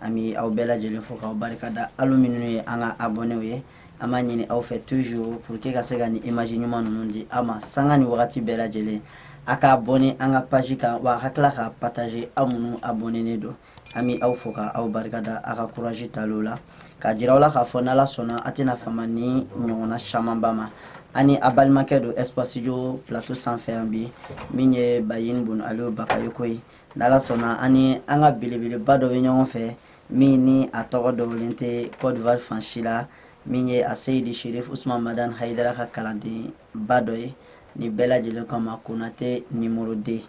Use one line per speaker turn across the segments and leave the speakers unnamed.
an bɛ aw bɛɛ lajɛlen fo k'aw barika da alu minnu ye an ka abɔnew ye an b'a ɲini aw fɛ toujours pour que ka se ka nin image ɲuman ninnu di aw ma sanga ni wagati bɛɛ lajɛlen a ka abɔne an ka page kan wa a ka tila ka partager aw minnu abɔnenen don an bɛ aw fo ka aw barika da a ka courage taliw la k'a jira aw la k'a fɔ n'ala sɔnna a tɛna fama nin ɲɔgɔnna camanba ma ani a balimakɛ don espace jo plateau sanfɛ yan bi min ye bayin bun aliyo bakayoko ye n'ala sɔnna an ni an ka belebeleba dɔ bɛ ɲɔgɔn fɛ min ni a tɔgɔ dogolen tɛ cote d'ivoire fan si la min ye a seyidi sherif usman madan hayidara ka kalandenba dɔ ye ni bɛɛ lajɛlen ko a ma konate nimoro de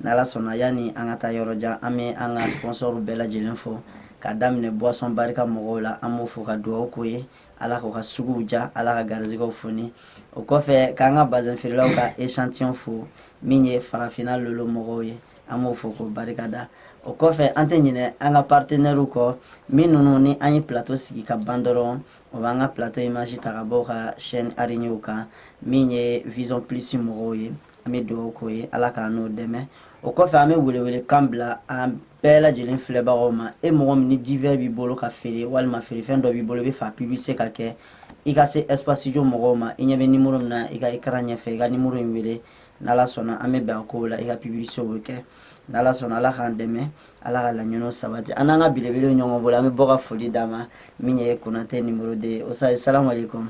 n'ala sɔnna yanni an ka taa yɔrɔ jan an bɛ an ka sponsɔrw bɛɛ lajɛlen fo ka daminɛ boisson barika mɔgɔw la an b'o fo ka dugawu k'o ye ala k'u ka suguw diya ala ka garizigɛw foni o kɔfɛ k'an ka bazin feerelaw ka echantillon fo min ye farafinna lolo mɔgɔw ye an b'o fo ko barika da o kɔfɛ an tɛ ɲinɛ an ka partenɛriw kɔ min ninnu ni an ye plateau sigi ka ban dɔrɔn o b'an ka plateau image ta ka b'o ka chaîne arignew kan min ye vision plus mɔgɔw ye an bɛ dugawu k'o ye ala k'an n'o dɛmɛ o kɔfɛ an bɛ welewelekan bila an bɛɛ lajɛlen filɛbagaw ma e mɔgɔ min ni divers b'i bolo ka feere walima feerefɛn dɔ b'i bolo i b'a fɛ a publicité ka kɛ i ka se espace jo mɔgɔw ma i ɲɛ bɛ nimoro min na i ka écran ɲɛfɛ i ka nimoro in wele n'ala sɔnna an bɛ bɛn a kow la i ka publicité o bɛ kɛ n'ala sɔnna ala k'an dɛmɛ ala ka laɲiniw sabati an n'an ka belebele ɲɔgɔn bolo an bɛ bɔ ka foli d'a ma min ye konatɛ nimoro de ye ustaz salamu aleykum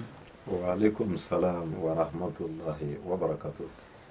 wa aleykum
salam wa rahmatulahi wa barakatuh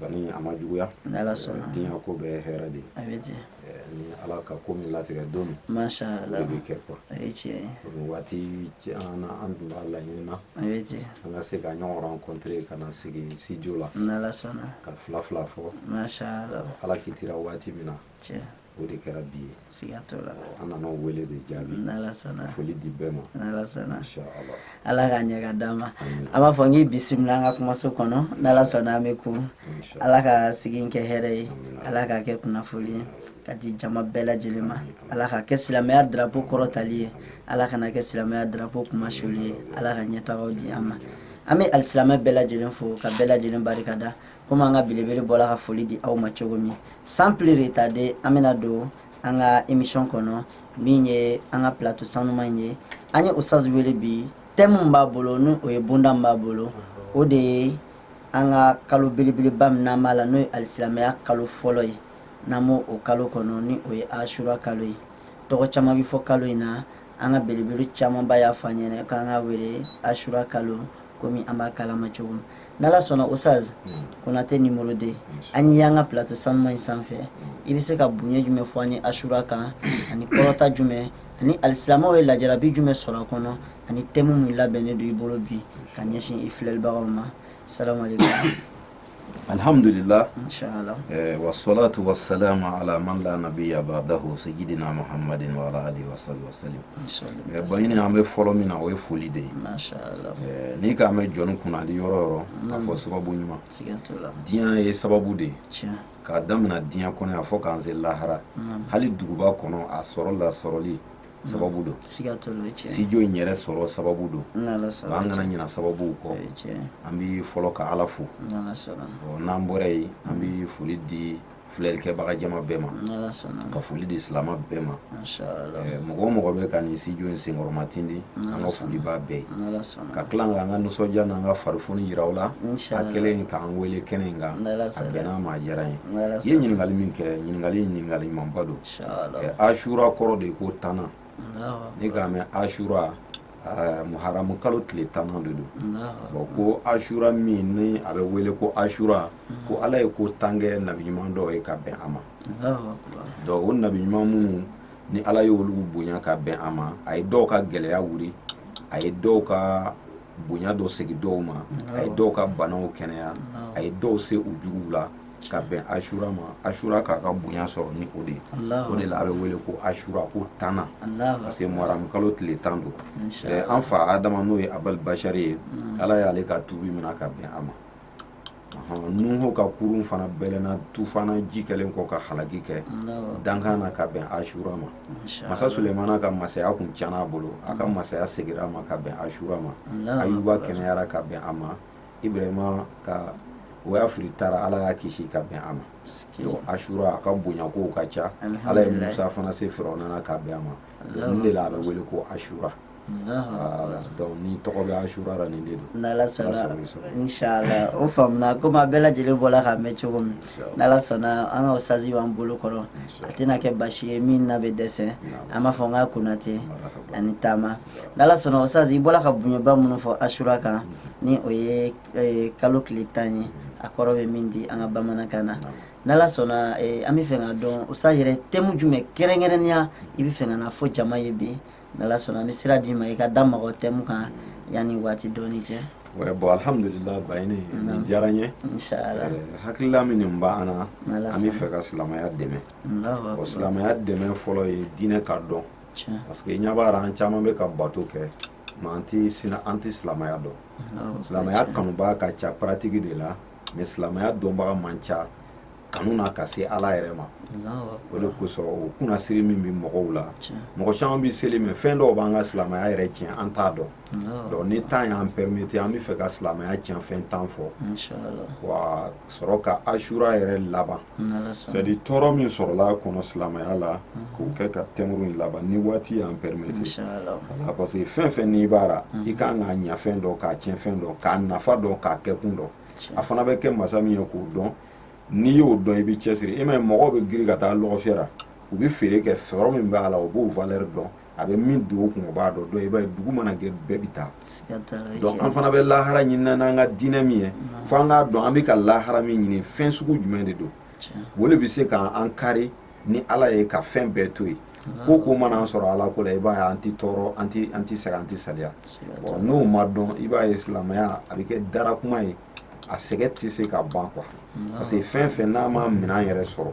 bani a ma juguya
diɲɛ ko bɛɛ
hɛrɛ
de ni
ala ka ko min latigɛ don min o bɛ
kɛ quoi waati
jan na an tun b'a laɲini na an
ka se ka
ɲɔgɔn rencontre ka na sigi studio la ka
fila fila fɔ
ala
kitira waati
min na o
de kɛra bi
ye siga t'o
la an nana
wele de jaabi n'ala sɔnna
foli di bɛɛ
ma n'ala
sɔnna
ala k'a ɲɛ ka d'an
ma an b'a fɔ n k'i bisimila an ka kumaso kɔnɔ n'ala sɔnna an bɛ ku ala ka sigi kɛ hɛrɛ ye ala k'a kɛ kunnafoli ye ka di jama bɛɛ lajɛlen ma ala ka kɛ silamɛya darapo kɔrɔtali ye ala kana kɛ silamɛya darapo kunmasuli ye ala ka ɲɛtagaw di an ma an bɛ alisilamɛ bɛɛ lajɛlen fo ka bɛɛ lajɛlen barikada komi an ka belebele bɔla ka foli di aw ma cogo min sans plus retarder an bɛna don an ka émission kɔnɔ min ye an ka plateau sanuma in ye an ye ustaz wele bi thème min b'a bolo ni o ye bonda min b'a bolo o de ye an ka kalo belebeleba min n'an b'a la n'o ye alisilamɛya kalo fɔlɔ ye n'an b'o o kalo kɔnɔ ni o ye asura kalo ye tɔgɔ caman bɛ fɔ kalo in na an ka belebele camanba y'a fɔ an ɲɛna k'an ka wele asura kalo komi an b'a kalama cogo min n'ala sɔnna ustazi konate numéro deux an ye y'an ka plato sanuma in sanfɛ i bɛ se ka bonya jumɛn fɔ an ye asura kan ani kɔrɔta jumɛn ani alisilamɛw ye lajarabi jumɛn sɔrɔ a kɔnɔ ani tɛmu min labɛnnen don i bolo bi ka ɲɛsin i filɛlibagaw ma salamu
aleykum alhamdulillah
inshallah eh, wassalatu
wassalamu ala man la nabiyya ba'dahu sayyidina muhammadin wa ala alihi wa sahbihi wa eh, baɲini an bɛ fɔlɔ min na o ye foli de ye
eh, n'i k'a
mɛn jɔn kunnandi yɔrɔ yɔrɔ k'a fɔ sababu ɲuman diɲɛ
ye sababu
de ye k'a damina diɲɛ kɔnɔ yan fɔ k'an se lahara hali duguba kɔnɔ a sɔrɔ lasɔrɔli sababu don studio
in yɛrɛ
sɔrɔ sababu don an kana ɲina
sababuw
kɔ an bɛ
fɔlɔ ka
ala fo
n'an bɔra yen
an bɛ foli di filɛlikɛbaga jama bɛɛ ma ka
foli di
silama bɛɛ ma
mɔgɔ o mɔgɔ bɛ
ka nin studio in senkɔrɔma tindi an ka foli b'a bɛɛ ye ka tila
ka an ka nisɔndiya
n'an ka farifoni yira u la a
kɛlen k'an
wele kɛnɛ in kan a bɛnna n
ma a diyara n ye
i ye ɲininkali
min
kɛ ɲininkali ye ɲininkali ɲumanba don asura
kɔrɔ de
ye ko tannan n'i k'a
mɛn
asura Ah, muharamu kalo tile tan de don bɔn ko asura min ni a bɛ wele ko asura mm. ko ala ye ko tan kɛ nabi ɲuman dɔw ye ka bɛn a ma donc o nabi ɲuman minnu ni ala ye olu bonya ka bɛn a ma a ye dɔw ka gɛlɛya wuli a ye dɔw ka bonya dɔ segin dɔw ma a ye dɔw ka banaw kɛnɛya a ye dɔw se u juguw la ka bɛn asura ma asura k'a ka bonya sɔrɔ ni o de ye o de la a bɛ wele ko asura ko tannan parce que muharamu kalo tile tan don eh, an fa adama n'o ye abali bashari ye mm. ala y'ale ka tubi mina ka bɛn a ma nuhu ka kurun fana bɛlɛnna tufana ji kɛlen kɔ ka halaki kɛ dankan na ka bɛn asura ma masa sulemana ka masaya kun tiɲɛna a bolo a ka mm. masaya segira a ma ka bɛn asura ma ayuba kɛnɛyara ka bɛn a ma ibrahima ka u y'a fili ta ra ala y'a kisi ka bɛn a ma donc asura a ka bonya kow ka ca ala ye musa fana se firawuna na ka bɛn a ma nin de la a bɛ wele ko asura donc ni tɔgɔ bɛ asura la nin de don n'ala
sɔnna inshallah o faamuna komi a bɛɛ lajɛlen bɔla k'a mɛn cogo min n'ala sɔnna an ka ustazi b'an bolo kɔrɔ a tɛna kɛ basi ye min na bɛ dɛsɛ an b'a fɔ n k'a konate a ni taama n'ala sɔnna ustazi i bɔla ka bonyaba minnu fɔ asura kan ni o ye eh, kalo tile tan ye a kɔrɔ bɛ min di an ka bamanankan na n'ala sɔnna eh, an bɛ fɛ k'a dɔn ustazi yɛrɛ tɛmu jumɛn kɛrɛnkɛrɛnnenya i bɛ fɛ ka na fɔ jama ye bi n'ala sɔnna an bɛ sira d'i ma i ka da maga o tɛmu kan yanni waati dɔɔni cɛ bon
alhamdulillah bayini nin diyara n
ye hakilila min nin
b'an na an bɛ fɛ ka silamɛya dɛmɛ o silamɛya dɛmɛ fɔlɔ ye diinɛ ka dɔn parce que i ɲa b'a la an caman bɛ ka bato kɛ mais an tɛ sina an tɛ silamɛya dɔn ah, silamɛya kanubaa ka ca pratique de la mais silamɛya dɔnbaga man ca kanu na ka se ala yɛrɛ ma o de kosɔn o kunnasiri min bɛ mɔgɔw la mɔgɔ caman bɛ seli mais fɛn dɔw b'an ka silamɛya yɛrɛ tiɲɛ an t'a dɔn donc ni temps y'an permettre an bɛ fɛ ka silamɛya tiɲɛfɛn tan fɔ wa sɔrɔ ka asura yɛrɛ laban c'est à dire tɔɔrɔ min sɔrɔla a kɔnɔ silamɛya la mhm. k'o kɛ ka tɛmuru in laban ni waati y'an permettre parce que fɛn fɛn n'i b'a la mhm. i kan k'a ɲɛfɛn dɔn k'a tiɲɛfɛn dɔn k'a nafa dɔn k'a kɛkun dɔn a fana bɛ kɛ masa min ye k'o dɔn n'i y'o dɔn i bɛ cɛsiri i m'a ye mɔgɔw bɛ giri ka taa lɔgɔfiyɛ la u bɛ feere kɛ sɔrɔ min b'a la u b'o valeur dɔn a bɛ min don u kun u b'a dɔn donc i b'a ye dugu mana jɛ bɛɛ bɛ taa donc an fana bɛ lahara ɲinina n'an ka diinɛ min ye fo an k'a dɔn an bɛ ka lahara min ɲini fɛn sugu jumɛn de don o de bɛ se ka an kari ni ala ye ka fɛn bɛɛ to yen ko o ko mana an sɔrɔ ala ko la i b'a ye an tɛ tɔɔrɔ an tɛ an tɛ sɛgɛn an tɛ saliya bon n'o ma dɔn i b'a ye silamɛya a bɛ kɛ dara kuma ye a sɛgɛn tɛ se ka ban quoi parce que fɛn fɛn n'a ma minɛn yɛrɛ sɔrɔ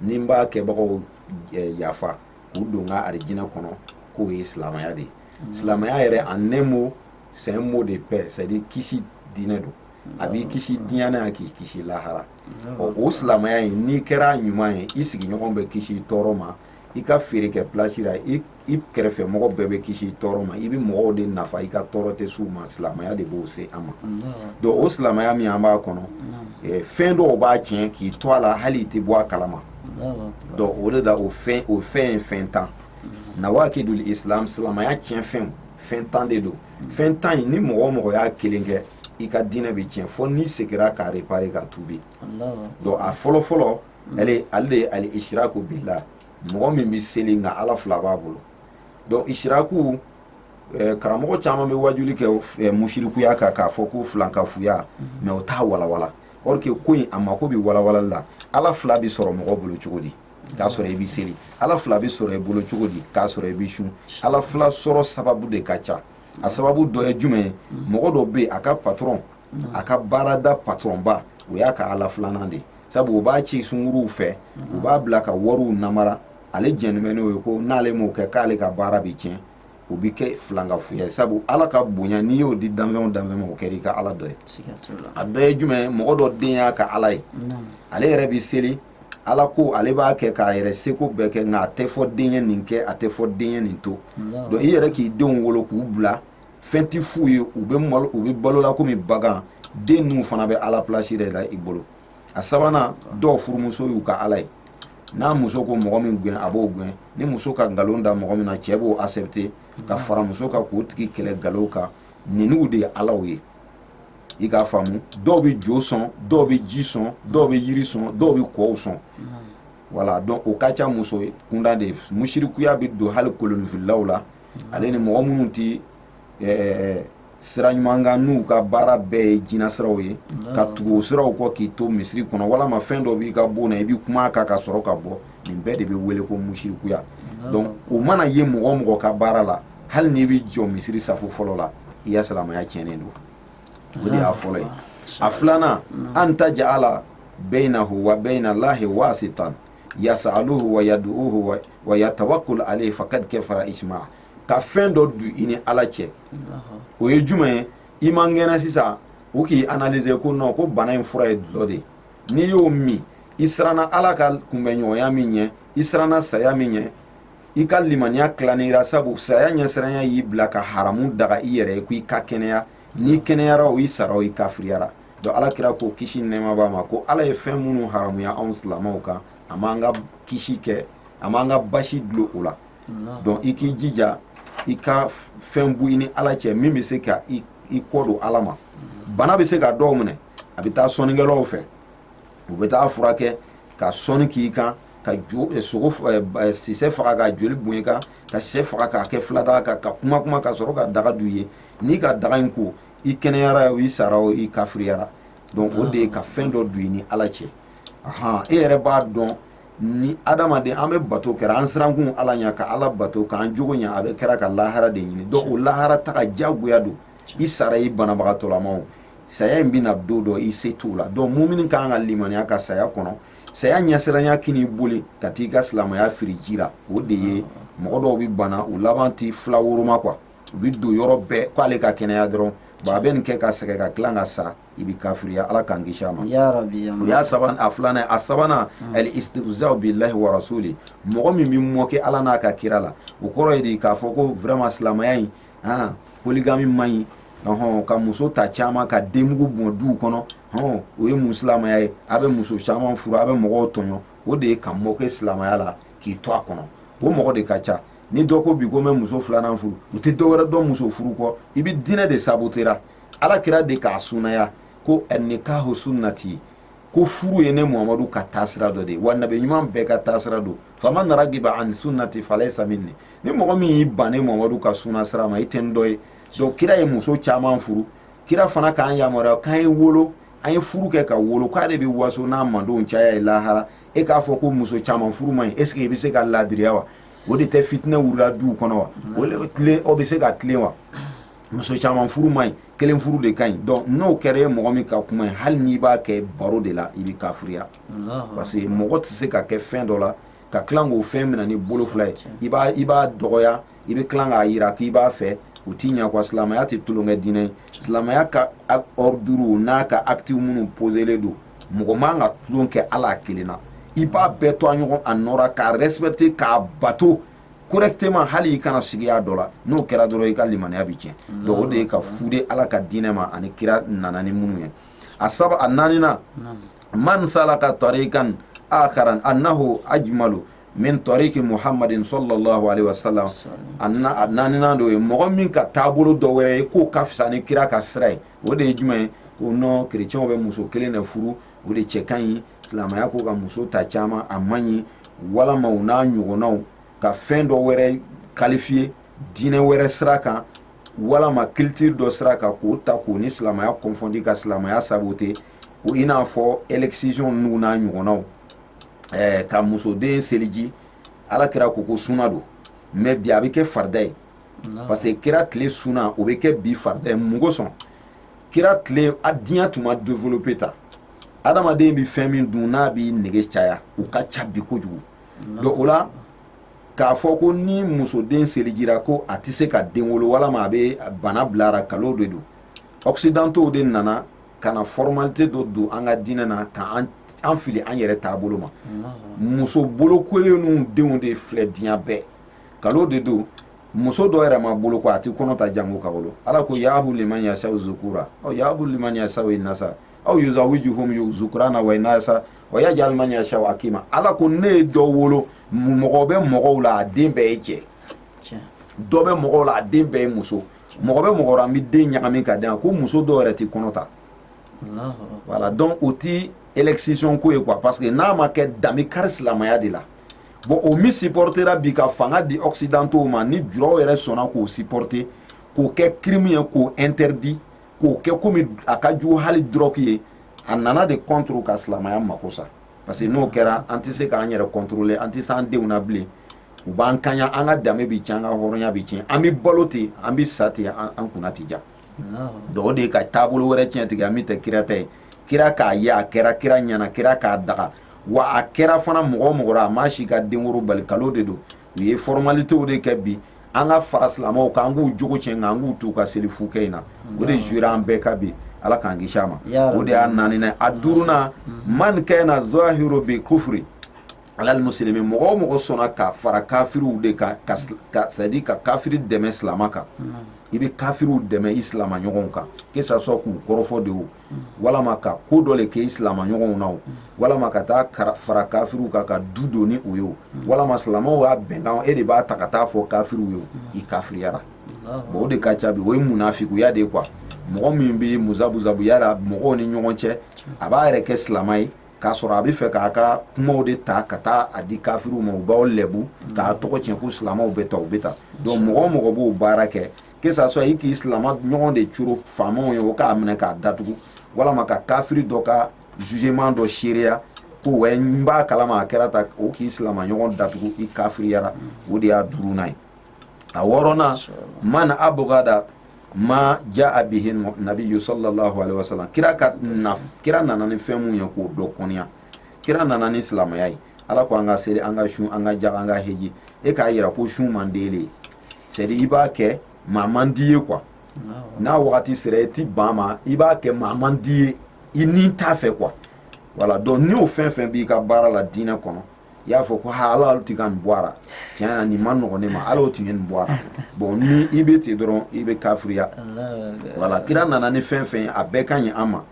ni n b'a kɛbagaw eh, yafa k'u don n ka arijinɛ kɔnɔ k'o ye silamaya de ye mm. silamaya yɛrɛ en un mot c'est un mot de paix c'est à dire kisi diinɛ don a b'i kisi diɲɛ na k'i kisi lahara ɔ o silamaya in n'i kɛra ɲuman ye i sigiɲɔgɔn bɛ kisi tɔɔrɔ ma i ka feere kɛ place la i i kɛrɛfɛ mɔgɔ bɛɛ bɛ kisi tɔɔrɔ ma i bɛ mɔgɔw de nafa i ka tɔɔrɔ tɛ s'u ma silamɛya de b'o se an ma donc o silamɛya min an b'a kɔnɔ eh, fɛn dɔw b'a tiɲɛ k'i to a la hali i tɛ bɔ a kalama donc o de la o fɛn o fɛn ye fɛn tan nawakidul islam silamɛya tiɲɛ fɛnw fɛn tan de don fɛn tan in ni mɔgɔ o mɔgɔ y'a kelen kɛ i ka diinɛ bɛ tiɲɛ fo n'i segira k'a réparer ka tuubi donc a fɔlɔ fɔlɔ ale ale de ye al ishraku billah mɔgɔ min bɛ seli nka ala fila b'a bolo donc ishraku eh, karamɔgɔ caman bɛ wajuli kɛ eh, musirikuya kan k'a fɔ ko filankafuya mais mhm. o t'a walawala or que ko in a mako bɛ walawalali la ala fila bɛ sɔrɔ mɔgɔ bolo cogo di k'a sɔrɔ i bɛ seli ala fila bɛ sɔrɔ i bolo cogo di k'a sɔrɔ i bɛ sun ala fila sɔrɔ sababu de ka ca a sababu dɔ ye jumɛn ye mhm. mɔgɔ dɔ bɛ yen a ka patron mhm. a ka baarada patronba o y'a ka ala filanan de ye sabu o b'a ci sunguruw fɛ u b'a bila ka wariw namara ale jɛnnen bɛ n'o ye ko n'ale m'o kɛ k'ale ka baara bɛ tiɲɛ o bɛ kɛ filankafuya ye sabu ala ka bonya n'i y'o di danfɛn o danfɛn ma o kɛra i ka ala dɔ ye a dɔ ye jumɛn ye mɔgɔ dɔ den y'a ka ala ye ale yɛrɛ bɛ seli ala ko ale b'a kɛ k'a yɛrɛ seko bɛɛ kɛ nka a tɛ fɔ den ye nin kɛ a tɛ fɔ den ye nin to donc i yɛrɛ k'i denw wolo k'u bila fɛn tɛ f'u ye u bɛ malo u bɛ balola komi bagan den ninnu fana bɛ ala place de la i bolo a sabanan dɔw furumuso y'u ka ala ye n'a muso ko mɔgɔ min gɛn a b'o gɛn ni muso ka nkalon da mɔgɔ min na cɛ b'o accepter ka fara muso kan k'o tigi kɛlɛ nkalon kan ninnu de ye alaw ye i k'a faamu dɔw bɛ jo sɔn dɔw bɛ ji sɔn dɔw bɛ yiri sɔn dɔw bɛ kɔw sɔn voilà donc o ka ca muso kunda de musirikuya bɛ don hali kolonifilaw la ale ni mɔgɔ minnu tɛ ɛɛ sira ɲuman kan n'u ka baara bɛɛ ye jinɛ siraw ye ka tugu o siraw kɔ k'i to misiri kɔnɔ walama fɛn dɔ b'i ka bon na i bɛ kuma a kan ka sɔrɔ ka bɔ nin bɛɛ de bɛ wele ko musirikuya donc o mana ye mɔgɔ o mɔgɔ ka baara la hali n'i bɛ jɔ misiri safo fɔlɔ la i ka silamɛya tiɲɛnen don o de y'a fɔlɔ ye a filanan an taj'ala bainahu wa baina Allahi waasitan yas'aluhu wa yad'uhu wa yatawakkal alayhi faqad kafara ijma' ka fɛn dɔ du i ni ala cɛ o ye jumɛn ye i man kɛnɛ sisan u k'i analyser ko non ko bana in fura ye dɔlɔ de ye n'i y'o min i siranna ala ka kunbɛɲɔgɔnya min ɲɛ i siranna saya min ɲɛ i ka limaniya tilanira sabu saya ɲɛsiranya y'i bila ka haramu daga i yɛrɛ ye ko i ka kɛnɛya n'i kɛnɛyara o i sara o i kafiriyara donc ala kira ko kisi nɛɛma b'a ma ko ala ye fɛn minnu haramuya anw silamaw kan a m'an ka kisi kɛ a m'an ka basi dulon o la donc i k'i jija i ka fɛn bɔ i ni ala cɛ min bɛ se ka i kɔ don ala ma bana bɛ se ka dɔ minɛ a bɛ taa sɔnnikɛlaw fɛ u bɛ taa furakɛ ka sɔnni k'i kan ka jo eh, sogo eh, eh, sisɛ faga ka joli bɔn i kan ka sisɛ faga k'a kɛ filadaga kan ka kuma kuma ka sɔrɔ ka daga du ye n'i ka daga in ko i kɛnɛyara o i sara o i kafiriyara donc o de ye ka fɛn dɔ don i ni ala cɛ ahan e yɛrɛ b'a dɔn ni adamaden an bɛ bato kɛra an sirankun ala ɲa ka ala bato k'an jogo ɲa a bɛ kɛra ka lahara de ɲini donc o lahara taga jagoya don i sara i banabagatɔlamaw saya in bɛ na don dɔ i se t'o la donc mumini ka kan ka limaniya ka saya kɔnɔ saya ɲɛsiranya kan'i boli ka t'i ka silamaya firi ji la o de ye mɔgɔ dɔw bɛ bana u laban ti fila woroma quoi u bɛ don yɔrɔ bɛɛ k'ale ka kɛnɛya dɔrɔn bon a bɛ nin kɛ ka sɛgɛn ka tila ka sa i bɛ kafiriya ala k'an kisi a ma o y'a sabanan a filanan a sabanan hmm. al istihza'u billahi wa rasuli mɔgɔ min bɛ moquer ala n'a ka kira la o kɔrɔ ye di k'a fɔ ko vraiment silamɛya in han polygamie man ɲi ɔhɔn ka muso ta caman ka denmugu bɔn duw kɔnɔ hɔn o ye mun silamɛya ye a bɛ muso caman furu a bɛ mɔgɔw tɔɲɔ o de ye ka moquer silamɛya la k'i to a kɔnɔ o mɔgɔ de ka ca ni dɔ ko bi ko n bɛ muso filanan furu u tɛ dɔ wɛrɛ dɔn muso furu kɔ i bɛ diinɛ de sabotera ala kira de k'a sunaya ko nikahu sunnati ko furu ye ne muhamadu ka taasira dɔ de ye wa nabi ɲuman bɛɛ ka taasira don faman ragiba an sunnati falayisa minni ni mɔgɔ min y'i ban ne muhamadu ka sunna sira ma i tɛ n dɔ ye donc kira ye muso caman furu kira fana k'an yamaruya k'an ye wolo an ye furu kɛ ka wolo k'a de bɛ waso n'a mandenw caya ye lahara e k'a fɔ ko muso caman furu man ɲi est ce que i bɛ se ka laadiriya wa o de tɛ fitinɛ wulila duw kɔnɔ wa o tilen o bɛ se ka tilen wa muso caman furu man ɲi kelen furu de ka ɲi donc n'o kɛra ye mɔgɔ min ka kuma ye hali n'i b'a kɛ baro de la i bɛ kafiriya parce que mɔgɔ tɛ se ka kɛ fɛn dɔ la ka tila k'o fɛn minɛ ni bolo fila ye i b'a i b'a dɔgɔya i bɛ tila k'a yira k'i b'a fɛ o ti ɲɛ quoi silamɛya tɛ tulonkɛ diinɛ ye silamɛya ka ordre n'a ka acte minnu poselen don mɔgɔ man ka tulon kɛ a la a kelen na i b'a bɛɛ to a ɲɔgɔn a nɔ ra k'a respecter k'a bato correctement hali i kana sigiya dɔ la n'o kɛra dɔrɔn i ka limaniya bi tiɲɛ mm. donc o de ye ka fude ala ka diinɛ ma ani kira nana ni minnu ye a saba a naaninan man salaka tarikan akaran annahu ajmalu min tariki muhammadin sallallahu alaihi wasallam a naaninan de ye mɔgɔ min ka taabolo dɔ wɛrɛ ye k'o ka fisa ni kira ka sira ye o de ye jumɛn ye ko non kerecɛnw bɛ muso kelen de furu o de cɛ ka ɲi silamɛya ko ka muso ta caman a man ɲi walama u n'a ɲɔgɔnnaw ka fɛn dɔ wɛrɛ qualifier diinɛ wɛrɛ sira kan walama culture dɔ sira kan k'o ta k'o ni silamɛya confondre ka silamɛya saboter o i n'a fɔ excision n'u n'a ɲɔgɔnnaw ɛɛ ka musoden seliji ala kira ko ko suna don mais bi a bɛ kɛ farida ye parce que kira tile suna o bɛ kɛ bi farida ye mun kosɔn kira tile a diɲɛ tun ma développer tan adamaden bɛ fɛn min dun n'a b'i nege caya u ka ca bi kojugu donc o la k'a fɔ ko ni musoden selijira ko a tɛ se ka den wolo walama a bɛ bana bila a ra kalon de don occidentaux de nana ka na formalité dɔ don an ka diinɛ na ka an fili an yɛrɛ taabolo ma muso bolokolen n'u denw de filɛ diɲɛ bɛɛ kalon de don muso dɔ yɛrɛ ma boloko a ti kɔnɔ ta jango ka wolo ala ko yahabu liman yasaw zukura aw yahabu liman yasaw inasa aw yuzawijuhum zukurana wa inasa wa yajal man yasaw akima ala ko ne ye dɔ wolo mɔgɔ bɛ mɔgɔw la a den bɛɛ ye cɛ dɔ bɛ mɔgɔw la a den bɛɛ ye muso mɔgɔ bɛ mɔgɔ la an bɛ den ɲagami ka den ko muso dɔ yɛrɛ ti kɔnɔ ta voilà donc o ti excision ko ye quoi parce que n'a ma kɛ dan bɛ kari silamɛya de la bon o min supportera bi ka fanga di occidentaux ma ni juraw yɛrɛ sɔnna k'o supporter k'o kɛ crime ye k'o interdit k'o kɛ komi a ka jugu hali drogue ye a nana de contre ka silamɛya mako sa parce que n'o kɛra an tɛ se k'an yɛrɛ contrôler an tɛ se an denw na bilen u b'an kanya an ka danbe bi tiɲɛ an ka hɔrɔnya bi tiɲɛ an bɛ balo ten an bɛ sa ten an kunna ti ja donc o de ye ka taabolo wɛrɛ tiɲɛ tigɛ an min tɛ kira ta ye kira k'a ye a kɛra kira ɲɛna kira k'a daga wa a kɛra fana mɔgɔ mɔgɔ la a ma si ka denkoro bali kalo de don u ye formalitéw de kɛ bi an ka fara silamɛw kan an k'u jogo tiɲɛ nka an k'u t'u ka seli fu kɛ in na o de jura an bɛɛ ka bi ala k'an kisi a ma o de y'a naaninan a duurunan man kana zahiru bi kufuri alal muslimi mɔgɔ o mɔgɔ sɔnna ka fara kafiriw de kan c'est à dire ka kafiri dɛmɛ silama kan i bɛ kafiriw dɛmɛ i silama ɲɔgɔnw kan que ça soit k'u kɔrɔfɔ de o walama ka ko dɔ le kɛ i silama ɲɔgɔnw na o walama ka taa fara kafiriw kan ka du don ni o ye o walama silamaw y'a bɛnkan e de b'a ta ka taa fɔ kafiriw ye o i kafiriyara bon o de ka ca bi o ye munafikuya de ye quoi mɔgɔ min bɛ muzabuzabuya la mɔgɔw ni ɲɔgɔn cɛ a b'a yɛrɛ kɛ silama ye k'a sɔrɔ a bɛ fɛ k'a ka kumaw de ta ka taa a di kafiriw ma u b'aw lɛbu k'a tɔgɔ tiɲɛ ko silamɛw bɛ tan u bɛ tan donc mɔgɔ o mɔgɔ b'o baara kɛ que ça soit i k'i silamɛ ɲɔgɔn de coro faamaw ye o k'a minɛ k'a datugu walama ka kafiri dɔ ka jugement dɔ seereya ko wɛ n b'a kalama a kɛra tan o k'i silamɛ ɲɔgɔn datugu i kafiriyara o de y'a duurunan ye a wɔɔrɔnan man abugada ma jaa bihi nabiyu sallallahu alaihi wa sallam kira nana ni fɛn mun ye k'o dɔ kɔniya kira nana ni silamɛya ye ala ko an ka seli an ka sun an ka jaga an ka heji e k'a yira ko sun man d'ele ye c'est à dire i b'a kɛ mais a man d'i ye quoi n'a wagati sera i ti ban ma i b'a kɛ mais a man d'i ye i ni t'a fɛ quoi voilà donc ni o fɛn fɛn b'i ka baara la diinɛ kɔnɔ i y'a fɔ ko ha ala olu ti ka nin bɔ a la tiɲɛ na nin man nɔgɔ ne ma ala o tun ye nin bɔ a la bon ni i bɛ ten dɔrɔn i bɛ kafiriya voilà kira nana ni fɛn fɛn ye a bɛɛ ka ɲi an ma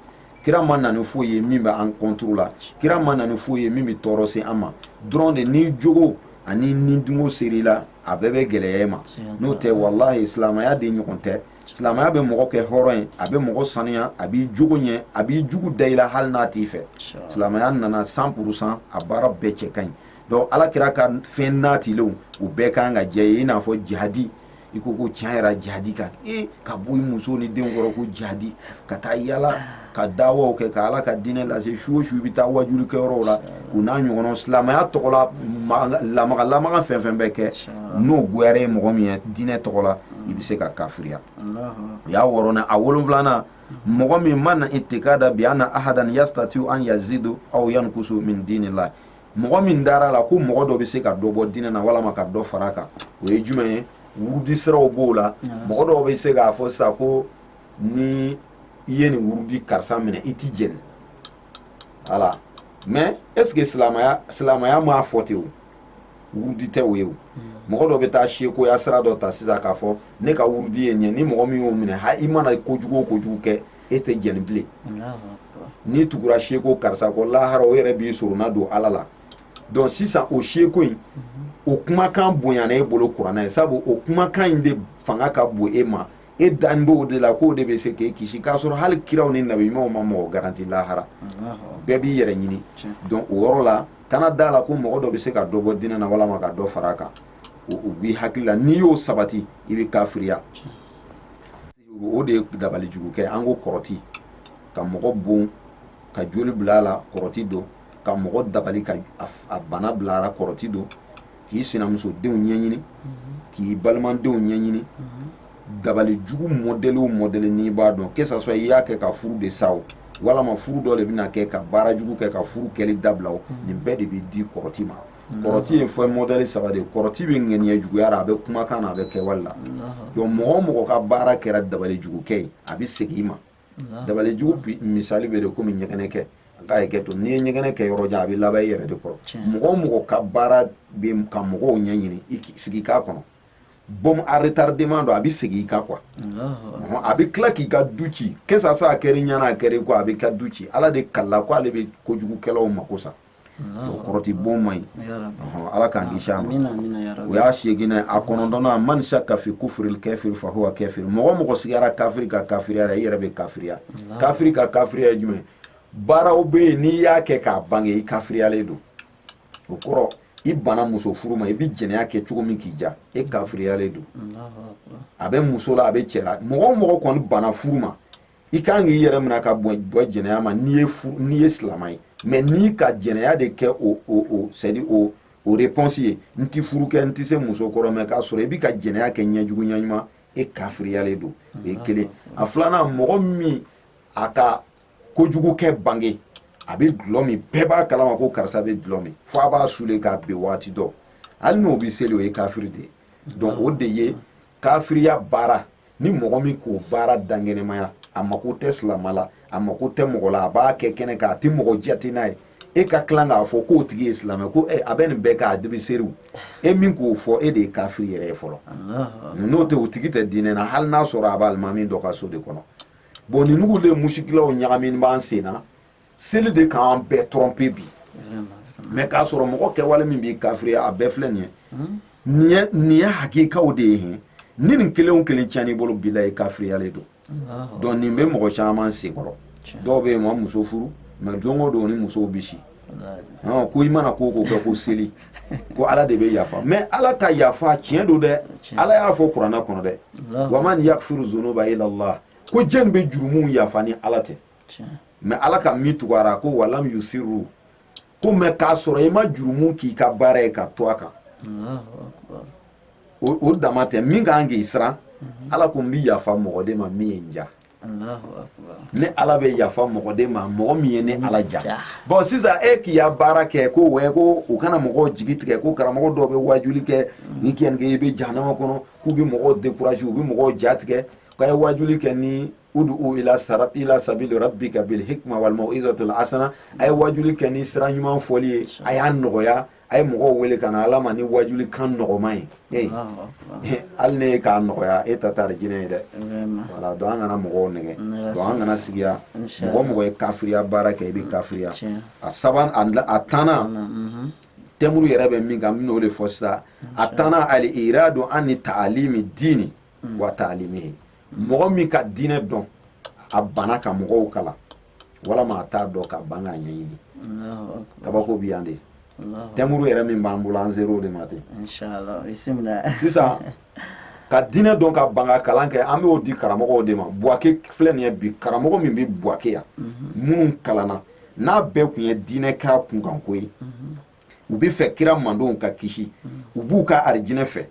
kira ma na ni foyi ye min bɛ an contre la kira ma na ni foyi ye min bɛ tɔɔrɔ se an ma dɔrɔn de n'i jogo ani ni dungo ser'i la a bɛɛ bɛ gɛlɛya e ma n'o tɛ walahi silamɛya de ɲɔgɔn tɛ silamɛya bɛ mɔgɔ kɛ hɔrɔn ye a bɛ mɔgɔ sanuya a b'i jogo ɲɛ a b'i jugu da i la hali n'a t'i fɛ silamɛya nana cent pour cent a baara bɛɛ cɛ ka ɲi donc ala kira ka fɛn natilenw u bɛɛ kan ka j'e ye i n'a fɔ jihadi i ko ko tiɲɛ yɛrɛ jihadi ka e ka bɔ i muso ni denw kɔrɔ ko jihadi ka taa yala ka dawaw kɛ ka ala ka diinɛ lase su o su i bɛ taa wajulikɛyɔrɔw la o n'a ɲɔgɔnnaw silamɛya tɔgɔ la lamaga lamaga fɛn fɛn bɛ kɛ n'o goyara ye mɔgɔ min ye diinɛ tɔgɔ la i bɛ se ka kafiriya o y'a wɔɔrɔnan a wolonfilanan mɔgɔ min man itikada bi anna ahadan yastatiu an yazidu aw yankusu min diinillah mɔgɔ min dara a la ko mɔgɔ dɔ bɛ se ka dɔ bɔ diinɛ na walama ka dɔ fara a kan o ye jumɛn ye wurudisiraw b'o la mɔgɔ dɔw bɛ se k'a fɔ sisan ko ni i ye nin wurudi karisa minɛ i ti jɛni voilà mais est ce que silamaya silamaya m'a fɔ ten o wurudi tɛ o ye o mɔgɔ dɔ bɛ taa sekoya sira dɔ ta sisan k'a fɔ ne ka wurudi ye nin ye ni mɔgɔ min y'o minɛ ha i mana kojugu o kojugu kɛ e tɛ jɛni bilen n'i tugura seko karisa kɔ lahara o yɛrɛ b'i sorona don ala la donc sisan o seko in o kumakan bonyana e bolo kuranɛ ye sabu o kumakan in de fanga ka bon e ma e dan b'o de la k'o de bɛ se k'e kisi k'a sɔrɔ hali kiraw ni nabiɲumanw ma mɔgɔ garanti lahara bɛɛ b'i yɛrɛ ɲini donc o yɔrɔ la kana da la ko mɔgɔ dɔ bɛ se ka dɔ bɔ diinɛ na walama ka dɔ fara a kan o b'i hakili la n'i y'o sabati i bɛ kafiriya o de ye dabali jugu kɛ an ko kɔrɔti ka mɔgɔ bon ka joli bila a la kɔrɔti don ka mɔgɔ dabali ka a bana bila a la kɔrɔti don k'i sinamusodenw ɲɛɲini k'i balimadenw ɲɛɲini dabali jugu mɔdɛli o mɔdɛli n'i b'a dɔn que ça soit i y'a kɛ ka furu de sa o walama furu dɔ de bɛna kɛ ka baara jugu kɛ ka furu kɛli dabila o nin bɛɛ de bɛ di kɔrɔti ma kɔrɔti ye fɛn mɔdɛli saba de ye kɔrɔti bɛ ŋaniya juguya la a bɛ kumakan na a bɛ kɛwale la donc mɔgɔ o mɔgɔ ka baara kɛra dabali jugukɛ ye a bɛ segin i ma dabali jugu misali bɛ de komi ɲɛgɛnɛ kɛ k'a ye kɛ to n'i ye ɲɛgɛnɛ kɛ yɔrɔ jan a bɛ laban i yɛrɛ de kɔrɔ mɔgɔ o mɔgɔ ka baara bɛ ka mɔgɔw ɲɛɲini i sigi k'a kɔnɔ bombe à retardement don a bɛ segin i kan quoi a bɛ tila k'i ka du ci que ça soit a kɛra i ɲɛna a kɛra i kɔ a bɛ ka du ci ala de kalila ko ale bɛ kojugukɛlaw mako sa o kɔrɔti bon man ɲi ala k'an kisi a ma o
y'a seeginnan ye
a kɔnɔntɔnnan man shakka fi kufuril kafiri fa huwa kafiri mɔgɔ o mɔgɔ sigara kafiri ka kafiriya la i yɛrɛ bɛ kafiriya kafiri ka kafiriya ye jumɛn baaraw bɛ yen n'i y'a kɛ k'a bange i kafiriyalen don o kɔrɔ i bana muso furu ma i bɛ jɛnɛya kɛ cogo min k'i diya e kafiriyalen don a bɛ muso la a bɛ cɛ la mɔgɔ o mɔgɔ kɔni bana furu ma i kan k'i yɛrɛ mina ka bɔ bɔ jɛnɛya ma n'i ye fu n'i ye silama ye mais n'i ka jɛnɛya de kɛ o o o c'est dire o o réponse ye n ti furu kɛ n ti se muso kɔrɔ mais k'a sɔrɔ i bi ka jɛnɛya kɛ ɲɛjugu ɲɛɲuman e kafiriyalen don o ye kelen a filanan mɔgɔ min a ka kojugu kɛ bange a bɛ dulɔ min bɛɛ b'a kalama ko karisa bɛ dulɔ min fo a b'a sule k'a bin waati dɔ hali n'o bɛ seli o ye kafiri de ye donc o de ye kafiriya baara ni mɔgɔ min k'o baara dankɛnɛmaya a mako tɛ silama la a mako tɛ mɔgɔ la a b'a kɛ kɛnɛ kan a tɛ mɔgɔ jate n'a ye e ka tila k'a fɔ k'o tigi ye silamɛ ko eh, a bɛ nin bɛɛ kɛ a de bi seli e min k'o fɔ e de ye kafiri yɛrɛ ye fɔlɔ n'o tɛ o tigi tɛ diinɛ na hali n'a sɔrɔ a bɛ alimami dɔ ka so de kɔnɔ bɔn nin nugu de musikilaw ɲagamini b'an sen na seli de k'an bɛɛ trɔnpe bi mɛ k'a sɔrɔ mɔgɔ kɛwale min b'i kafiriya a bɛɛ filɛ nin ye nin ye hakikaw de ye hin ni nin kelen o kelen tiɲɛn'i bolo bila ye kafiriyalen don donc nin bɛ mɔgɔ caman senkɔrɔ dɔw bɛ yen ma muso furu mɛ don o don ni musow bɛ si ko i mana ko o ko kɛ ko seli ko ala de bɛ yafa mɛ ala ka yafa tiɲɛ don dɛ ala y'a fɔ kuranɛ kɔnɔ dɛ wa man yagfiru zunuba illa allah ko jɛn bɛ jurumuw yafa ni ala tɛ mɛ ala ka min tugu a ra ko walam yusiru ko mɛ k'a sɔrɔ i ma jurumu k'i ka baara ye ka to a kan o dama tɛ min ka kan k'i siran mhm. ala ko n bi yafa mɔgɔ de ma min ye n ja ne ala bɛ yafa mɔgɔ de ma mɔgɔ min ye ne ala ja bɔn sisan e k'i ya baara kɛ ko wɛ ko u kana mɔgɔw jigi tigɛ ko karamɔgɔ dɔw bɛ wajuli kɛ mhm. n'i ka nin kɛ i bɛ jahanama kɔnɔ k'u bɛ mɔgɔw dekurazi u bɛ mɔgɔw ja tigɛ k'a ye wajuli kɛ ni udu u ila sara ila sabili rabbika bil hikma wal mau'izatil hasana ay wajuli kɛ ni sira ɲuman fɔli ye a y'a nɔgɔya a ye mɔgɔw wele ka na ala ma ni wajuli kan nɔgɔman ye ee hali ne ye k'a nɔgɔya e ta tɛ arijinɛ ye dɛ wala donc an kana mɔgɔw nɛgɛ donc an kana sigiya mɔgɔ mɔgɔ ye kafiriya baara kɛ i bɛ kafiriya a saban a tannan mhm. tɛmuru yɛrɛ bɛ min kan n bɛn'o de fɔ sisan a tannan al iradu ani taalimi diini wa taalimihi mɔgɔ min ka diinɛ dɔn a bana ka mɔgɔw kalan walama a t'a dɔn ka ban k'a ɲɛɲini kabako bi yan de tɛmuru yɛrɛ min b'an bolo an ser'o de ma ten
sisan
ka diinɛ dɔn ka ban ka kalan kɛ an b'o di karamɔgɔw de ma buwake filɛ nin ye bi karamɔgɔ min bɛ buwake yan mhm. minnu kalanna n'a bɛɛ kun ye diinɛ k'a kunkanko ye mhm. u bɛ fɛ kira mandenw ka kisi mhm. u b'u ka arijinɛ fɛ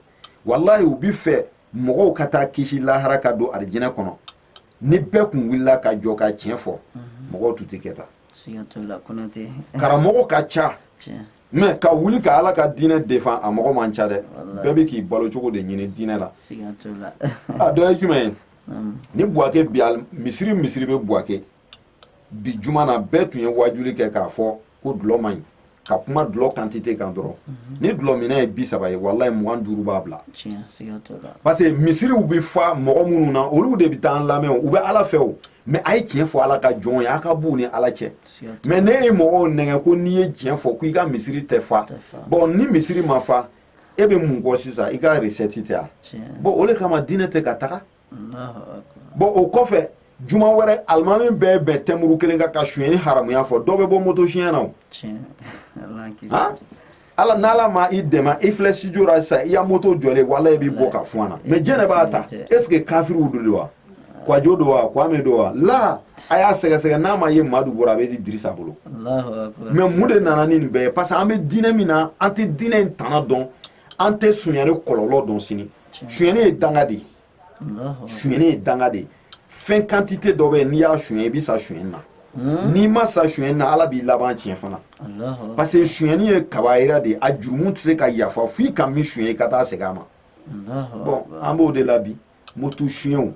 walayi u bi fɛ mɔgɔw ka taa kisi lahara ka don arijinɛ kɔnɔ ni bɛɛ kun wulila ka jɔ ka tiɲɛ fɔ mhm. mɔgɔw tun tɛ kɛ tan karamɔgɔ ka ca mɛ ka wuli ka ala ka diinɛ defan a mɔgɔ man ca dɛ bɛɛ bɛ k'i balo cogo de ɲini diinɛ la a dɔ ye jumɛn ye ni buwake bi misiri misiri bɛ buwake bi juma n'a bɛɛ tun ye waajuli kɛ k'a fɔ ko dulɔ man ɲi ka kuma dulɔ kantite kan dɔrɔn mhm. ni dulɔminna ye bi saba ye walayi mugan duuru b'a bila parce que misiriw bɛ fa mɔgɔ minnu na olu de bɛ taa an lamɛn u bɛ ala fɛ o mɛ a ye tiɲɛ fɔ ala ka jɔn ye a ka b'u ni ala cɛ mɛ n'e ye mɔgɔw nɛgɛ ko n'i ye tiɲɛ fɔ ko i ka misiri tɛ fa bɔn ni misiri ma fa e bɛ mun kɔ sisan i ka resɛti tɛ a bɔn o de kama diinɛ tɛ ka taga bon o kɔfɛ juma wɛrɛ alimami bɛɛ bɛn tɛmuru kelen kan ka suyɛni haramuya fɔ dɔ bɛ bɔ moto suyɛn na o ala n'ala ma i dɛmɛ i filɛ studio la sisan i ya moto jɔlen wala i b'i bɔ ka fɔ an na mais jɛnɛ b'a ta est ce que kafiriw don de wa kwajo don wa kwame don wa la a y'a sɛgɛsɛgɛ n'a ma ye madu bɔra a bɛ di dirisa bolo mais mun de nana ni nin bɛɛ ye parce que an bɛ diinɛ min na an tɛ diinɛ in tana dɔn an tɛ suyɛni kɔlɔlɔ dɔn sini suyɛni ye danga de ye suyɛni ye danga de ye fɛn quantité dɔ bɛ yen n'i y'a suyɛn i bɛ sa suyɛni na hmm? n'i ma sa suyɛni na ala b'i laban tiɲɛ fana parce que suyɛni ye kabayira de ye a jurumu tɛ se ka yafa f'i ka min suyɛn i ka taa segin a ma bon an b'o de la bi moto suyɛnw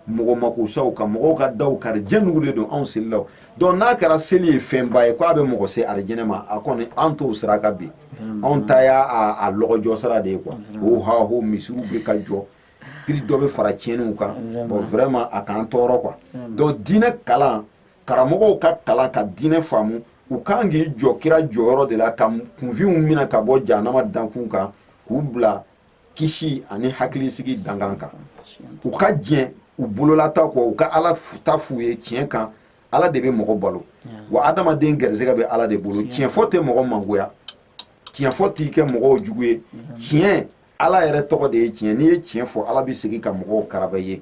mɔgɔ magasaw ka mɔgɔw ka daw kari jɛnugu de don anw selilaw donc n'a kɛra seli ye fɛnba ye ko a bɛ mɔgɔ se arijɛnɛ ma a kɔni an t'o sira kan bi anw ta y'a a lɔgɔjɔ sira de ye quoi o ha ho misiriw bɛ ka jɔ piri dɔ bɛ fara tiɲɛniw kan bon vraiment a k'an tɔɔrɔ quoi donc diinɛ kalan karamɔgɔw ka kalan ka diinɛ faamu u kan k'i jɔ kira jɔyɔrɔ de la ka kunfinw minɛ ka bɔ jahanama dankun kan k'u bila kisi ani hakilisigi dankan kan u ka diɲɛ u bololata kɔ u ka ala ta f'u ye tiɲɛ kan ala de bɛ mɔgɔ balo wa adamaden gɛrɛsɛgɛ bɛ ala de bolo tiɲɛ fɔ tɛ mɔgɔ mangoya tiɲɛ fɔ t'i kɛ mɔgɔw jugu ye tiɲɛ ala yɛrɛ tɔgɔ de ye tiɲɛ n'i ye tiɲɛ fɔ ala bɛ segin ka mɔgɔw karaba ye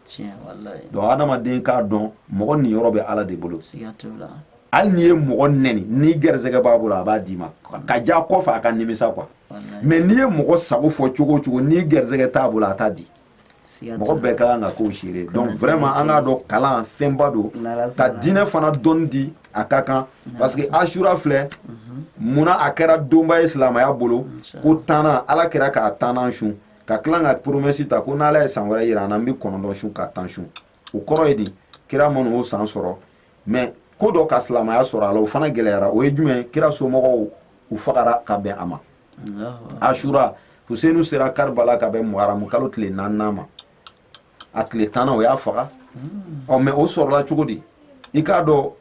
donc adamaden k'a dɔn mɔgɔ niyɔrɔ bɛ ala de bolo hali n'i ye mɔgɔ nɛni n'i gɛrɛsɛgɛ b'a bolo a b'a d'i ma ka ja kɔfɛ a ka nimisa quoi mais n'i ye mɔgɔ sago fɔ cogo o cogo n'i gɛrɛsɛgɛ t'a bolo a t'a di mɔgɔ bɛɛ ka kan ka k'o seere donc vraiment an k'a dɔn kalan fɛnba don ka diinɛ fana dɔnni di a ka kan parce que asura filɛ mhm. munna a kɛra donba ye silamaya bolo ko tannan ala kira k'a tannan sun ka tila ka promesse ta ko n'ala ye san wɛrɛ yira an na n bɛ kɔnɔntɔn sun ka tan sun o kɔrɔ ye di kira ma n'o san sɔrɔ mais ko dɔ ka silamaya sɔrɔ a la o fana gɛlɛyara o ye jumɛn kira somɔgɔw u fagara ka bɛn a ma asura fusenu sera karibala ka bɛn muharamu kalo tile naaninan ma a tile tannan o y'a faga ɔ mais o sɔrɔla cogo di i k'a dɔn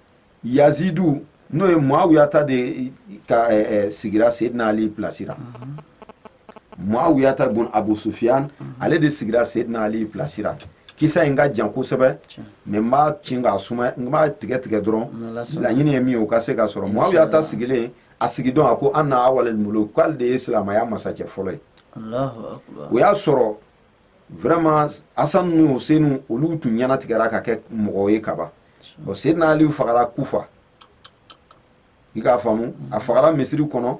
yazidu n'o ye muawiyata denkɛ eh, eh, sigira seydina ali pilasi ra muawiyata bun abu sufiyan ale de sigira seydina ali pilasi ra kisa in ka jan kosɛbɛ mais n b'a ci k'a suma n b'a tigɛ tigɛ dɔrɔn laɲini ye min ye o ka se ka sɔrɔ muawiyata sigilen a sigidon a ko ana awalel muluk k'ale de ye silamaya masakɛ fɔlɔ ye o y'a sɔrɔ vraiment asan ni husenu olu tun ɲɛnatigɛra ka kɛ mɔgɔ ye kaban bon sedina ali fagara kufa i k'a faamu a fagara misiri kɔnɔ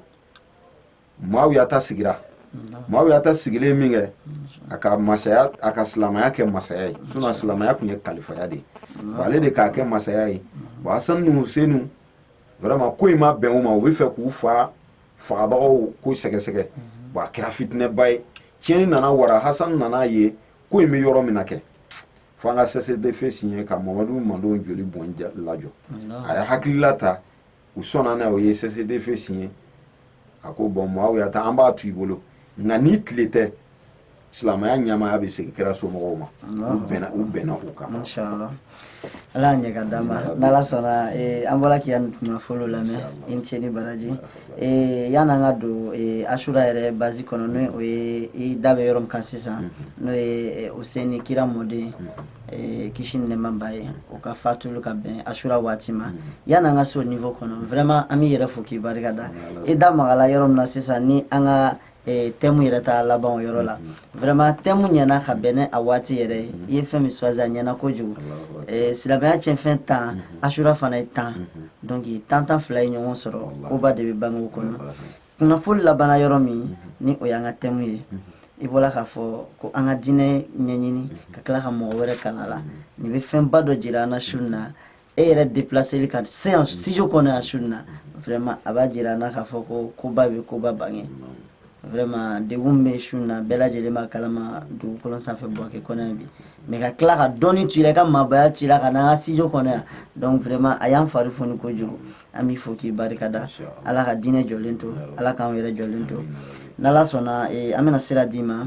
mawuyata sigira mawuyata sigilen min kɛ a ka masaya a ka silamaya kɛ masaya ye sinon silamaya tun ye kalifaya de ye ale de k'a kɛ masaya ye bon asan ni husenu vraiment ko in ma bɛn u ma u b'a fɛ k'u fa fagabagaw ko sɛgɛsɛgɛ bon a kɛra fitinɛba ye tiɲɛni nana wara hasan nana ye ko in bɛ yɔrɔ min na kɛ fo an ka cessez-le-feu signer ka mamadu mantɔn joli bɔn lajɔ a ye hakilila ta u sɔnna n'a ye o ye cessez-le-feu signer a ko bɔn mawuyata an b'a to i bolo nka n'i tile tɛ silamɛya ɲamaaya bɛ segin kira somɔgɔw ma u bɛnna u bɛnna o kan
inshallah ala y'a ɲɛ k'a d'an ma n'ala sɔnna eh, an bɔra k'i ka kuma fɔlɔ lamɛn i ni ce ni baraji eh, yan'an ka don eh, asura yɛrɛ base kɔnɔ n'o ye o ye i da bɛ yɔrɔ min kan sisan mhm. n'o ye useni kira mɔden mhm. kisi ni nɛɛma b'a ye o ka fatuli ka bɛn asura waati ma mhm. yan'an ka se o niveau kɔnɔ vraiment an b'i yɛrɛ fo k'i barika da i da magala yɔrɔ min na sisan ni an ka eh, thème yɛrɛ ta laban o yɔrɔ la mm-hmm. vraiment thème ɲɛna ka bɛn n'a waati yɛrɛ ye mm-hmm. i ye fɛn min choisi a ɲɛna kojugu eh, silamɛya cɛnfɛn tan mm-hmm. asura fana ye tan donc tan tan fila ye ɲɔgɔn sɔrɔ koba de bɛ bange o kɔnɔ kunnafoni labanna yɔrɔ min ni o y'an ka thème ye i bɔra k'a fɔ ko an ka diinɛ ɲɛɲini ka tila ka mɔgɔ wɛrɛ kalan la nin bɛ fɛnba dɔ jira an na su in na e yɛrɛ déplaceli ka se yan studio kɔnɔ yan su in na vraiment a b'a jira an na k'a fɔ ko koba bɛ koba bange vraiment degun bɛ su in na bɛɛ lajɛlen b'a kalama dugukolo sanfɛ buwake kɔnɔ yan bi mais ka tila ka dɔnni to i la i ka maabaya to i la ka n'an ka studio kɔnɔ yan donc vraiment a y'an fari foni kojugu an b'i fo k'i barika da ala ka diinɛ jɔlen to ala k'anw yɛrɛ jɔlen to n'ala sɔnna an bɛna sira d'i ma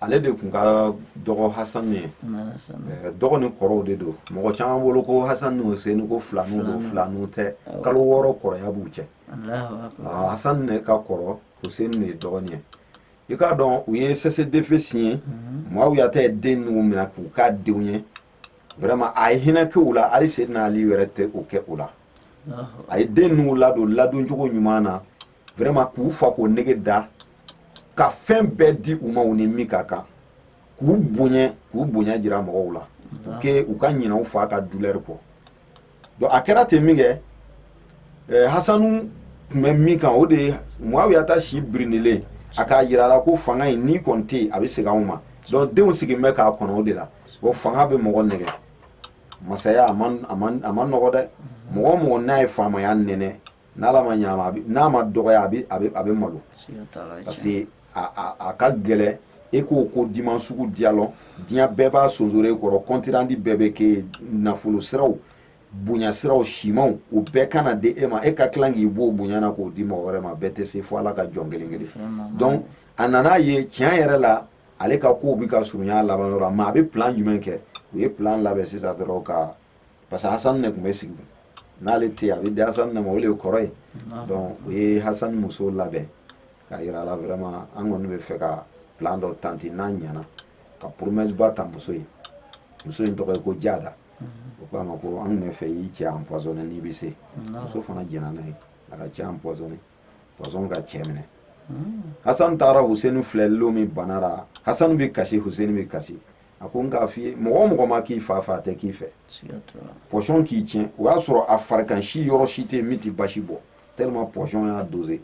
ale de tun ka dɔgɔ hasanu ye dɔgɔ ni kɔrɔw de don mɔgɔ caman bolo ko hasan ni huseni ko filanu don filanu tɛ kalo wɔɔrɔ kɔrɔya b'u cɛ hasan ne ka kɔrɔ huseni de ye dɔgɔnin ye i k'a dɔn u ye cessez-le-feu signer mawuyata ye den ninnu minɛ k'u ka denw ye vraiment a ye hinɛ kɛ u la hali sedina ali yɛrɛ tɛ o kɛ u la a ye den ninnu ladon ladon cogo ɲuman na vraiment k'u fa k'u nege da ka fɛn bɛɛ di u ma u ni min ka kan k'u bonya k'u bonya jira mɔgɔw la u ke u ka ɲinɛ u fa ka douleur kɔ donc a kɛra ten min kɛ eh, hasanu tun bɛ min kan o de ye muawiyata si birinilen a k'a yira a la ko fanga in n'i kɔni tɛ yen a bɛ segin anw ma donc denw sigilen bɛ k'a kɔnɔ o de la o fanga bɛ mɔgɔ nɛgɛn masaya a man a man a man nɔgɔ dɛ mɔgɔ o mɔgɔ n'a ye faamaya nɛnɛ n'ala ma ɲ'a ma n'a ma dɔgɔya a bɛ a bɛ a bɛ malo parce que a a ka gɛlɛn e k'o ko diman sugu diya lɔn diɲɛ bɛɛ b'a sonsoro e kɔrɔ kɔntirandi bɛɛ bɛ kɛ nafolo siraw bonya siraw simanw o bɛɛ kana di e ma e ka tila k'i b'o bonya na k'o di mɔgɔ wɛrɛ ma bɛɛ tɛ se fo ala ka jɔn kelen kelen donc a nan'a ye tiɲɛ yɛrɛ la ale ka kow bɛ ka surunya laban yɔrɔ la mais a bɛ plan jumɛn kɛ u ye plan labɛn sisan dɔrɔn ka parce que hasan de tun bɛ sigi n'ale tɛ a bɛ di hasan de ma o de ye kɔrɔ ye donc u ye hasan muso labɛn ka yira a la vraiment an kɔni bɛ fɛ ka plan dɔ tanti n'a ɲɛna ka promesse ba ta muso ye muso in tɔgɔ ye ko jada o ko a ma ko an tun bɛ fɛ i cɛ empoisonné n'i bɛ se muso fana jɛnna n'a ye a k'a cɛ empoisonné poison ka cɛ minɛ hasan taara huseni filɛli lon min bana la hasan bɛ kasi huseni bɛ kasi a ko n k'a f'i ye mɔgɔ o mɔgɔ ma k'i fa fɛ a tɛ k'i fɛ poison k'i tiɲɛ o y'a sɔrɔ a farikan si yɔrɔ si tɛ yen min tɛ basi bɔ tellement poison y'a dosé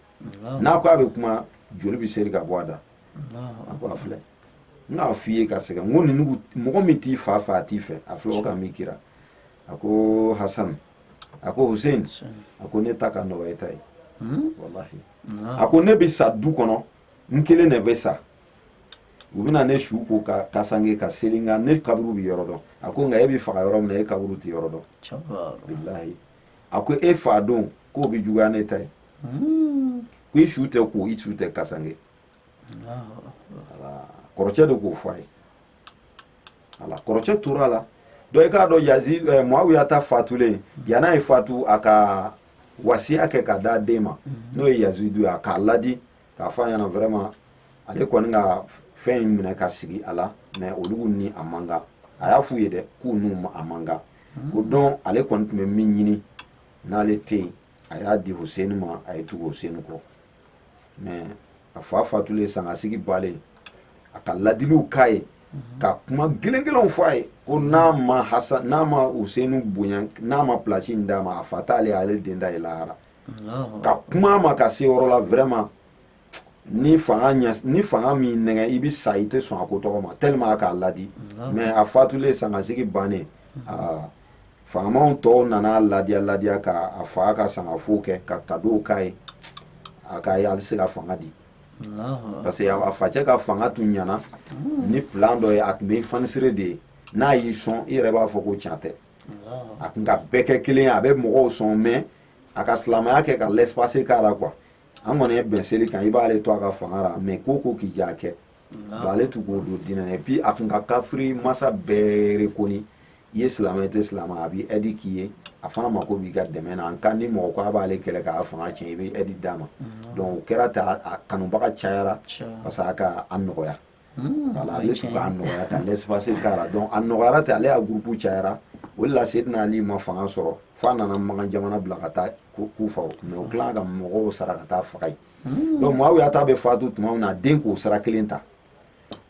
n'a ko a bɛ kuma joli bɛ seri ka bɔ a da a ko a filɛ n k'a f'i ye ka sɛgɛn n ko ninnu mɔgɔ min t'i fa fɛ a t'i fɛ a filɛ o ka min kira a ko hasan a ko hussein a ko ne ta ka nɔgɔ e ta ye hmm? walahi a ko ne bɛ sa du kɔnɔ n kelen de bɛ sa u bɛna ne su ko k'a kasange ka seli n kan ne kaburu bɛ yɔrɔ dɔn a ko nka e bɛ faga yɔrɔ min na e kaburu tɛ yɔrɔ dɔn bilahi a ko e fa don k'o bɛ juguya ne ta ye hmm. ko i su tɛ ko i su tɛ kasange kɔrɔcɛ de k'o fɔ a ye voilà kɔrɔcɛ tora a la donc i k'a dɔn yazi eh, muawiya ta fatulen yan'a ye fatu a ka wasiya kɛ ka d'a den ma mhm. n'o ye yazidu ye a k'a ladi k'a fɔ a ɲɛna vraiment ale kɔni ka fɛn in minɛ ka sigi a la mais olu ni a man kan a y'a f'u ye dɛ k'u n'u a man kan mhm. o don ale kɔni tun bɛ min ɲini n'ale tɛ yen a y'a di huseni ma a ye tugu huseni kɔ mais a fa fatulen sangasigi bannen a ka ladiliw k'a ye mhm. ka kuma gɛlɛn gɛlɛnw fɔ a ye ko n'a ma hasa n'a ma huseni bonya n'a ma place in d'a ma a fa t'ale ale den da ye lahara ka kuma a ma ka se yɔrɔ la vraiment ni fanga ɲɛ ni fanga m'i nɛgɛn i bɛ sa i tɛ sɔn a ko tɔgɔ ma tellement a k'a ladi mais a fatulen sangasigi bannen aa faamaw tɔw nana ladiya ladiya ka a fa ka sangafo kɛ ka cadeau k'a ye a k'a ye ale se ka fanga di parce que a facɛ ka fanga tun ɲana hmm. ni plan dɔ ye a tun bɛ fanisire de ye n'a y'i sɔn i yɛrɛ b'a fɔ ko tiɲɛ tɛ a tun ka bɛɛ kɛ kelen ye a bɛ mɔgɔw sɔn mais a ka silamɛya kɛ ka laisser-passer k'a la quoi an kɔni ye bɛn seli kan i b'ale to a ka fanga ra mais ko ko k'i ja kɛ ale tun k'o don diinɛ na et puis a tun ka kafiri masa bɛɛ rekoni i ye silamɛ tɛ silamɛ a b'i ɛdi k'i ye a fana mako b'i ka dɛmɛ na en cas ni mɔgɔ ko a b'ale kɛlɛ k'a fanga tiɲɛ i bɛ ɛdi d'a ma donc o kɛra ten a kanubaga cayara parce que a ka a nɔgɔya voilà ale tun k'a nɔgɔya ka l'espace k'a la donc a nɔgɔyara ten ale ka gurupu cayara o de la sedina ali ma fanga sɔrɔ fo a nana makan jamana bila ka taa kufa mais o tila ka mɔgɔw sara ka t'a faga yen hmm. donc muawiyata bɛ fatu tuma min na a den k'o sira kelen ta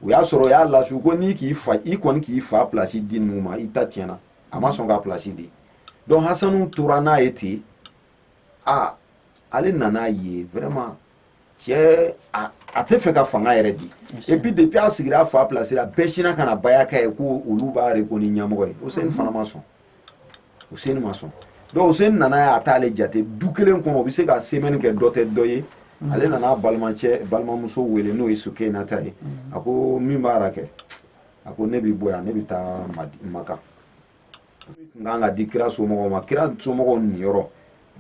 o y'a sɔrɔ o y'a lasu ko n'i k'i fa i kɔni k'i fa pilasi di ninnu ma i ta tiɲɛna a ma sɔn ka pilasi di donc hasanu tora n'a ye ten a ale nana ye vraiment cɛ a a tɛ fɛ ka fanga yɛrɛ di et puis depuis a sigira a fa pilasi la bɛɛ sinna ka na baya k'a ye ko olu b'a rekoni ɲɛmɔgɔ ye huseni fana ma sɔn Huseni ma sɔn donc Huseni nana ye a t'ale jate du kelen kɔnɔ o bɛ se ka semaine kɛ dɔ tɛ dɔ ye mm. ale nana a balimacɛ balimamuso wele n'o ye Sukeyinata ye mm. a ko min b'a ra kɛ a ko ne bɛ bɔ yan ne bɛ taa Maka min kan ka di kira somɔgɔw ma kira somɔgɔw niyɔrɔ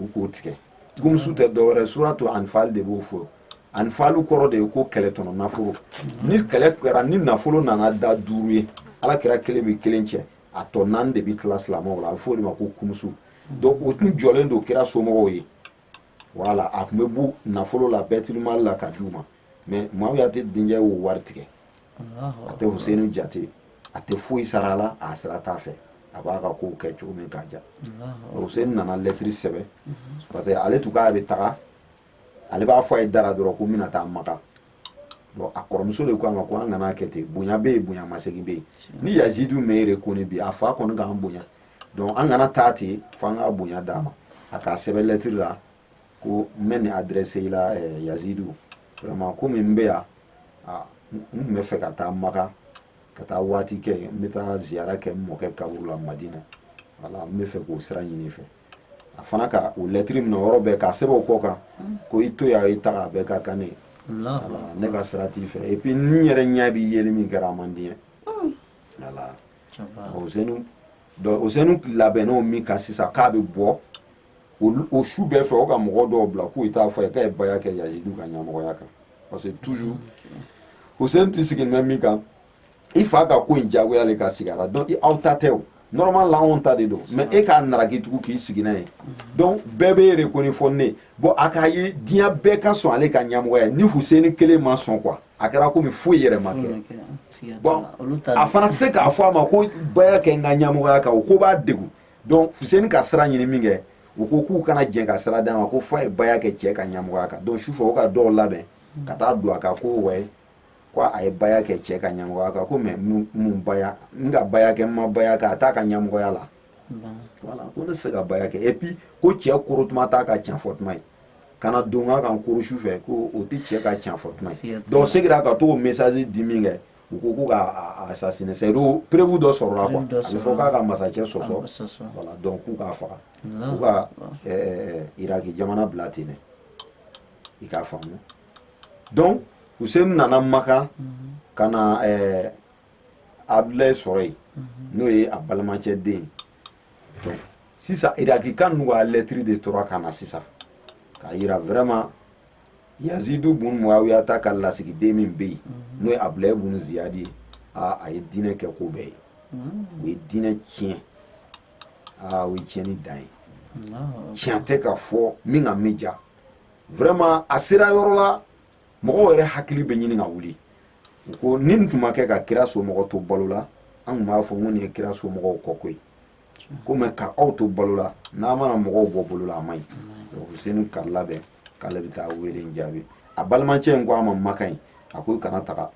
u k'o tigɛ kumusu tɛ dɔwɛrɛ suratu anifali de b'o fɔ anifali kɔrɔ de ye ko kɛlɛ tɔnɔ nafolo ni kɛlɛ kɛra ni nafolo nana da duuru ye ala kira kelen bɛ kelen cɛ a tɔ naani de bɛ tila silamɛw la a bɛ fɔ o de ma ko kumusu hmm. donc o tun jɔlen don kira somɔgɔw ye voilà a tun bɛ bɔ nafolo la bɛtilimali la ka di u ma mais muawiyata denkɛ y'o wari tigɛ a tɛ huseni jate a tɛ foyi sara a la a sira t'a fɛ a b'a ka kow kɛ cogo min k'a diya huseni nana lɛtiri sɛbɛn parce que ale tun k'a bɛ taga ale b'a fɔ a ye da ra dɔrɔn ko n bɛna taa Maka bon a kɔrɔmuso de ko a ma ko an kana kɛ ten bonya bɛ yen bonya masegin bɛ yen ni yazidu ma i rekoni bi a fa kɔni k'an bonya donc an kana taa ten fo an ka bonya d'a ma a k'a sɛbɛn lɛtiri la ko n bɛ nin adresse i la eh, yazidu vraiment komi n bɛ yan ah, n tun bɛ fɛ ka taa Maka ka taa waati kɛ yen n bɛ taa ziyara kɛ n mɔkɛ kaburu la madina voilà n bɛ fɛ k'o sira ɲini i fɛ a fana ka o lɛtiri minɛ yɔrɔ bɛɛ k'a sɛbɛn o kɔ kan mm. ko i to yan i taga a bɛɛ ka kan ne ye ne ka sira t'i fɛ et puis n yɛrɛ ɲɛ b'i yeli min kɛra a man di n ye voilà osenu osenu labɛnna min kan sisan k'a bɛ bɔ o su bɛɛ fɛ o ka mɔgɔ dɔw bila k'u t'a fɔ a ye k'a ye baya kɛ yazidu ka ɲɛmɔgɔya kan parce que toujours osenu tɛ sigi mɛ min kan i fa ka ko in diyagoya le ka sigi a la donc aw ta tɛ o normal la anw ta de don mais e k'a naraki tugun k'i sigi n'a ye donc bɛɛ b'i rekoni fo ne bon a k'a ye diɲɛ bɛɛ ka sɔn ale ka ɲɛmɔgɔya ni fuseni kelen ma sɔn quoi a kɛra komi foyi yɛrɛ ma kɛ bon a fana tɛ se k'a fɔ a ma ko baya kɛ n ka ɲɛmɔgɔya kan o ko b'a degun donc fuseni ka sira ɲini min kɛ u ko k'u kana jɛn ka sira d'a ma ko f'a ye baya kɛ cɛ ka ɲɛmɔgɔya kan donc sufɛ o ka dɔw labɛn ka taa don a kan ko wayi ko a ye baya kɛ cɛ ka ɲɛmɔgɔya kan ko mais mun baya n ka baya kɛ n ma baya kɛ a t'a ka ɲɛmɔgɔya la voilà ko ne tɛ se ka baya kɛ et puis ko cɛ koro tuma t'a ka tiɲɛ fɔ tuma ye kana don ka kan koro su fɛ ko o tɛ cɛ ka tiɲɛ fɔ tuma ye donc segira ka t'o mesazi di minkɛ u ko ko k'a assassiner c'est-à-dire preuve dɔ sɔrɔla quoi a bɛ fɔ k'a ka masakɛ sɔsɔ voilà donc k'u k'a faga k'u ka iraki jamana bila ten dɛ i k'a faamu donc Hussein nana Maka ka na ɛɛ Abdulaye sɔrɔ yen n'o ye a balimacɛ den ye donc sisan irakikaw n'u ka lɛtiri de tora ka na sisan k'a yira vraiment yazidu bun muawiyata ka lasigiden min bɛ yen n'o ye abulaye bun ziyadi ye aa a ye diinɛ kɛ ko bɛɛ ye o ye diinɛ tiɲɛ aa o ye tiɲɛni dan ye tiɲɛ tɛ ka fɔ min ka min diya vraiment a sera yɔrɔ la mɔgɔw yɛrɛ hakili bɛ ɲini ka wuli u ko ni nin tun ma kɛ ka kira somɔgɔ to balo la an tun b'a fɔ ko nin ye kira somɔgɔw kɔ ko ye ko mais ka aw to balo la n'a mana mɔgɔw bɔ bolo la a man ɲi donc huseni k'a yɛrɛ labɛn k'ale bɛ taa wele in jaabi a balimacɛ in ko a ma Maka yen a ko i kana taga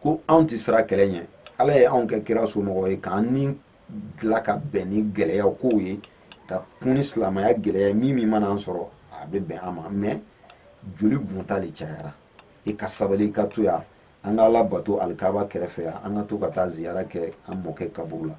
ko anw tɛ siran kɛlɛ ɲɛ ala ye anw kɛ kira somɔgɔ ye k'an ni dilan ka bɛn ni gɛlɛyaw kow ye ka kun ni silamɛya gɛlɛya ye min min mana an sɔrɔ a bɛ bɛn an ma mais joli bɔnta le cayara i ka sabali i ka to yan an ka ala bato alikaba kɛrɛfɛ yan an ka to ka taa ziyara kɛ an mɔkɛ kaburu la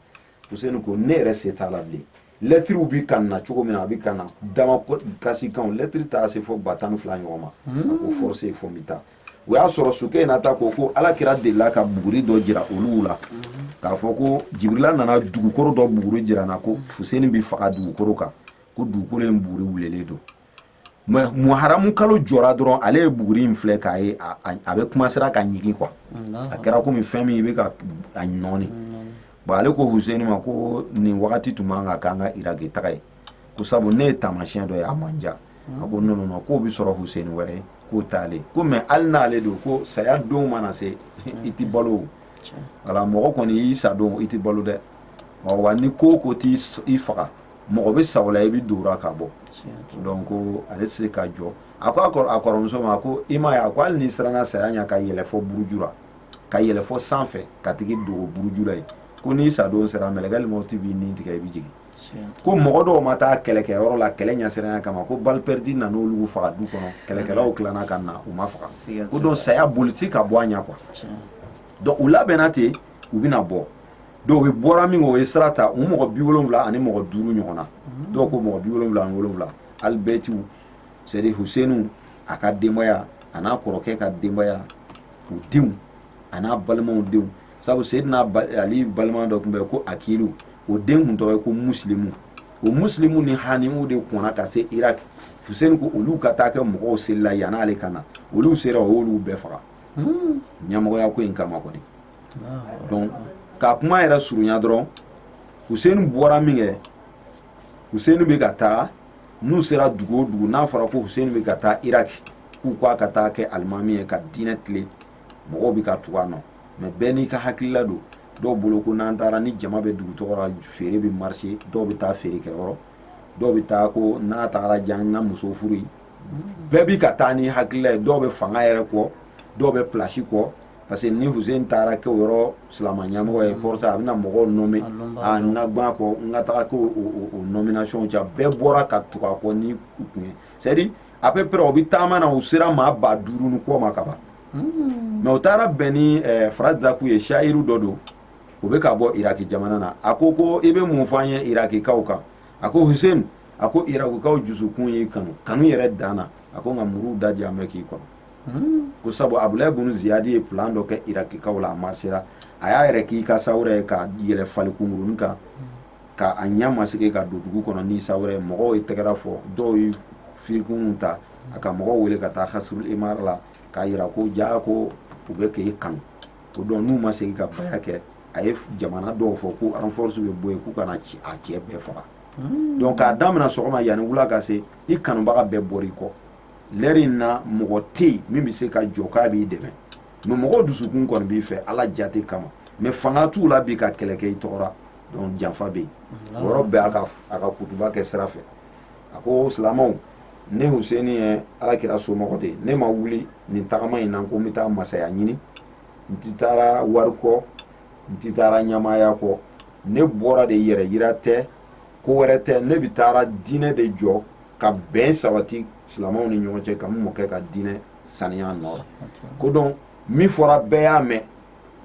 useni ko ne yɛrɛ se t'a la bilen lɛtiriw bi ka na cogo min na a bi ka na damakasikanw lɛtiri taa se fɔ ba tan ni fila ɲɔgɔn ma hmm. a ko force ye fɔ n bi taa o y'a sɔrɔ sukeyinata ko ko ala kira delila ka buguri dɔ jira olu la hmm. k'a fɔ ko jibirila nana dugukoro dɔ buguri jira n na ko fuseni bi faga dugukoro kan ko dugukoro in buguri wulelen don mais muharamu kalo jɔra dɔrɔn ale ye buguri in filɛ k'a ye a bɛ commencer ka ɲigin quoi a kɛra komi fɛn min i bɛ ka a nɔɔni bɔn ale ko huseni ma ko nin wagati tun man kan k'an ka iraki taga ye ko sabu ne ye taamasiyɛn dɔ ye a ma n diya a ko non non non k'o bɛ sɔrɔ huseni wɛrɛ ye k'o t'ale ko mais hali n'ale don ko saya don mana se i tɛ balo o wala mɔgɔ kɔni y'i sa don i tɛ balo dɛ wa ni ko ko t'i faga mɔgɔ bɛ sa o la i bɛ don ka bɔ donc ko ale tɛ se ka jɔ a ko a kɔrɔmuso ma ko i m'a ye a ko hali n'i siranna saya ɲɛ ka yɛlɛ fɔ buruju la ka yɛlɛ fɔ sanfɛ ka taga i dogo buruju la yen ko n'i sadon sera mɛlɛkɛlimawti b'i ni tigɛ i bɛ jigin ko mɔgɔ dɔw ma taa kɛlɛkɛ yɔrɔ la kɛlɛ ɲɛsiranya kama ko balle perdue nana olu faga du kɔnɔ kɛlɛkɛlaw tilana ka na u ma faga ko donc saya boli ti ka bɔ a ɲɛ quoi donc u labɛnna ten u bɛna bɔ donc u bɔra min o ye sira ta u mɔgɔ bi wolonwula ani mɔgɔ duuru ɲɔgɔn na dɔw ko mɔgɔ bi wolonwula ani wolonwula alibɛtiw c'est à dire husenu a ka denbaya a n'a kɔrɔkɛ ka denbaya u denw a n'a balimaw denw sabu seyidina ali balima dɔ tun bɛ ko akilu o den tun tɔgɔ ye ko musilimu o musilimu ni hanimu de kɔnna ka se iraki huseni ko olu ka taa kɛ mɔgɔw selila yan'ale ka na olu sera o y'olu bɛɛ faga ɲɛmɔgɔya ko in kama kɔni donc ka kuma yɛrɛ surunya dɔrɔn huseni bɔra min kɛ huseni bɛ ka taa n'u sera dugu o dugu n'a fɔra ko huseni bɛ ka taa iraki k'u k'a ka taa kɛ alimami ye ka diinɛ tilen mɔgɔw bɛ ka tugu a nɔ mais bɛɛ n'i ka hakilila don dɔw bolo ko n'an taara ni jama bɛ dugu tɔgɔ la feere bɛ marché dɔw bɛ taa feere kɛ yɔrɔ dɔw bɛ taa ko n'a taara diya n ka muso furu yen bɛɛ bi ka taa ni hakilila ye dɔw bɛ fanga yɛrɛ kɔ dɔw bɛ pilasi kɔ parce que ni Hussein taara kɛ o yɔrɔ silama ɲɛmɔgɔ ye pour ça a bɛna mɔgɔw nommer n ka bɔ a kɔ n ka taga kɛ o nomination cɛ bɛɛ bɔra ka tugu a kɔ ni u tun ye c'est à dire à peu près u bɛ taama na u sera maa ba duuru ni kɔ ma ka ban hmm. mais u taara bɛn ni eh, Faraz Daku ye sayiru dɔ don u bɛ ka bɔ Iraki jamana na a ko ko i bɛ mun fɔ an ye Irakikaw kan a ko hussein a ko irakikaw jusukun y'i kanu kanu yɛrɛ dan na a ko nka muruw da diyalen bɛ k'i kɔnɔ hmm. ko sabu abulayi bunu ziyadi ye plan dɔ kɛ irakikaw la a marchera a y'a yɛrɛ k'i ka sawura ye ka yɛlɛ fali kunkuruni kan ka a ɲɛ masquer ka don dugu kɔnɔ n'i sawura ye mɔgɔw ye tɛgɛrɛ fɔ dɔw ye firikunu ta a ka mɔgɔw wele ka taa kasirul imara la k'a yira ko jaa ko u bɛ k'e kanu ko donc n'u ma segin ka baya kɛ a ye jamana dɔw fɔ ko renforce bɛ bɔ yen k'u ka na a cɛ bɛɛ faga hmm. donc k'a daminɛ sɔgɔma yanni wula ka se i kanubaga bɛɛ bɔra i kɔ lɛri in na mɔgɔ tɛ yen min bɛ se ka jɔ k'a b'i dɛmɛ mais mɔgɔw dusukun kɔni b'i fɛ ala jate kama mais fanga t'u la bi ka kɛlɛ kɛ i tɔgɔ la donc janfa bɛ yen o yɔrɔ bɛɛ a ka kutuba kɛ sira fɛ a ko silamɛw ne huseni ye alakira somɔgɔ de ye ne ma wuli nin tagama in na ko n bɛ taa masaya ɲini n ti taara wari kɔ n ti taara ɲamaya kɔ ne bɔra de yɛrɛ yira tɛ ko wɛrɛ tɛ ne bɛ taara diinɛ de jɔ ka bɛn sabati silamɛw ni ɲɔgɔn cɛ ka n mɔkɛ ka diinɛ saniya nɔgɔ la ko donc min fɔra bɛɛ y'a mɛn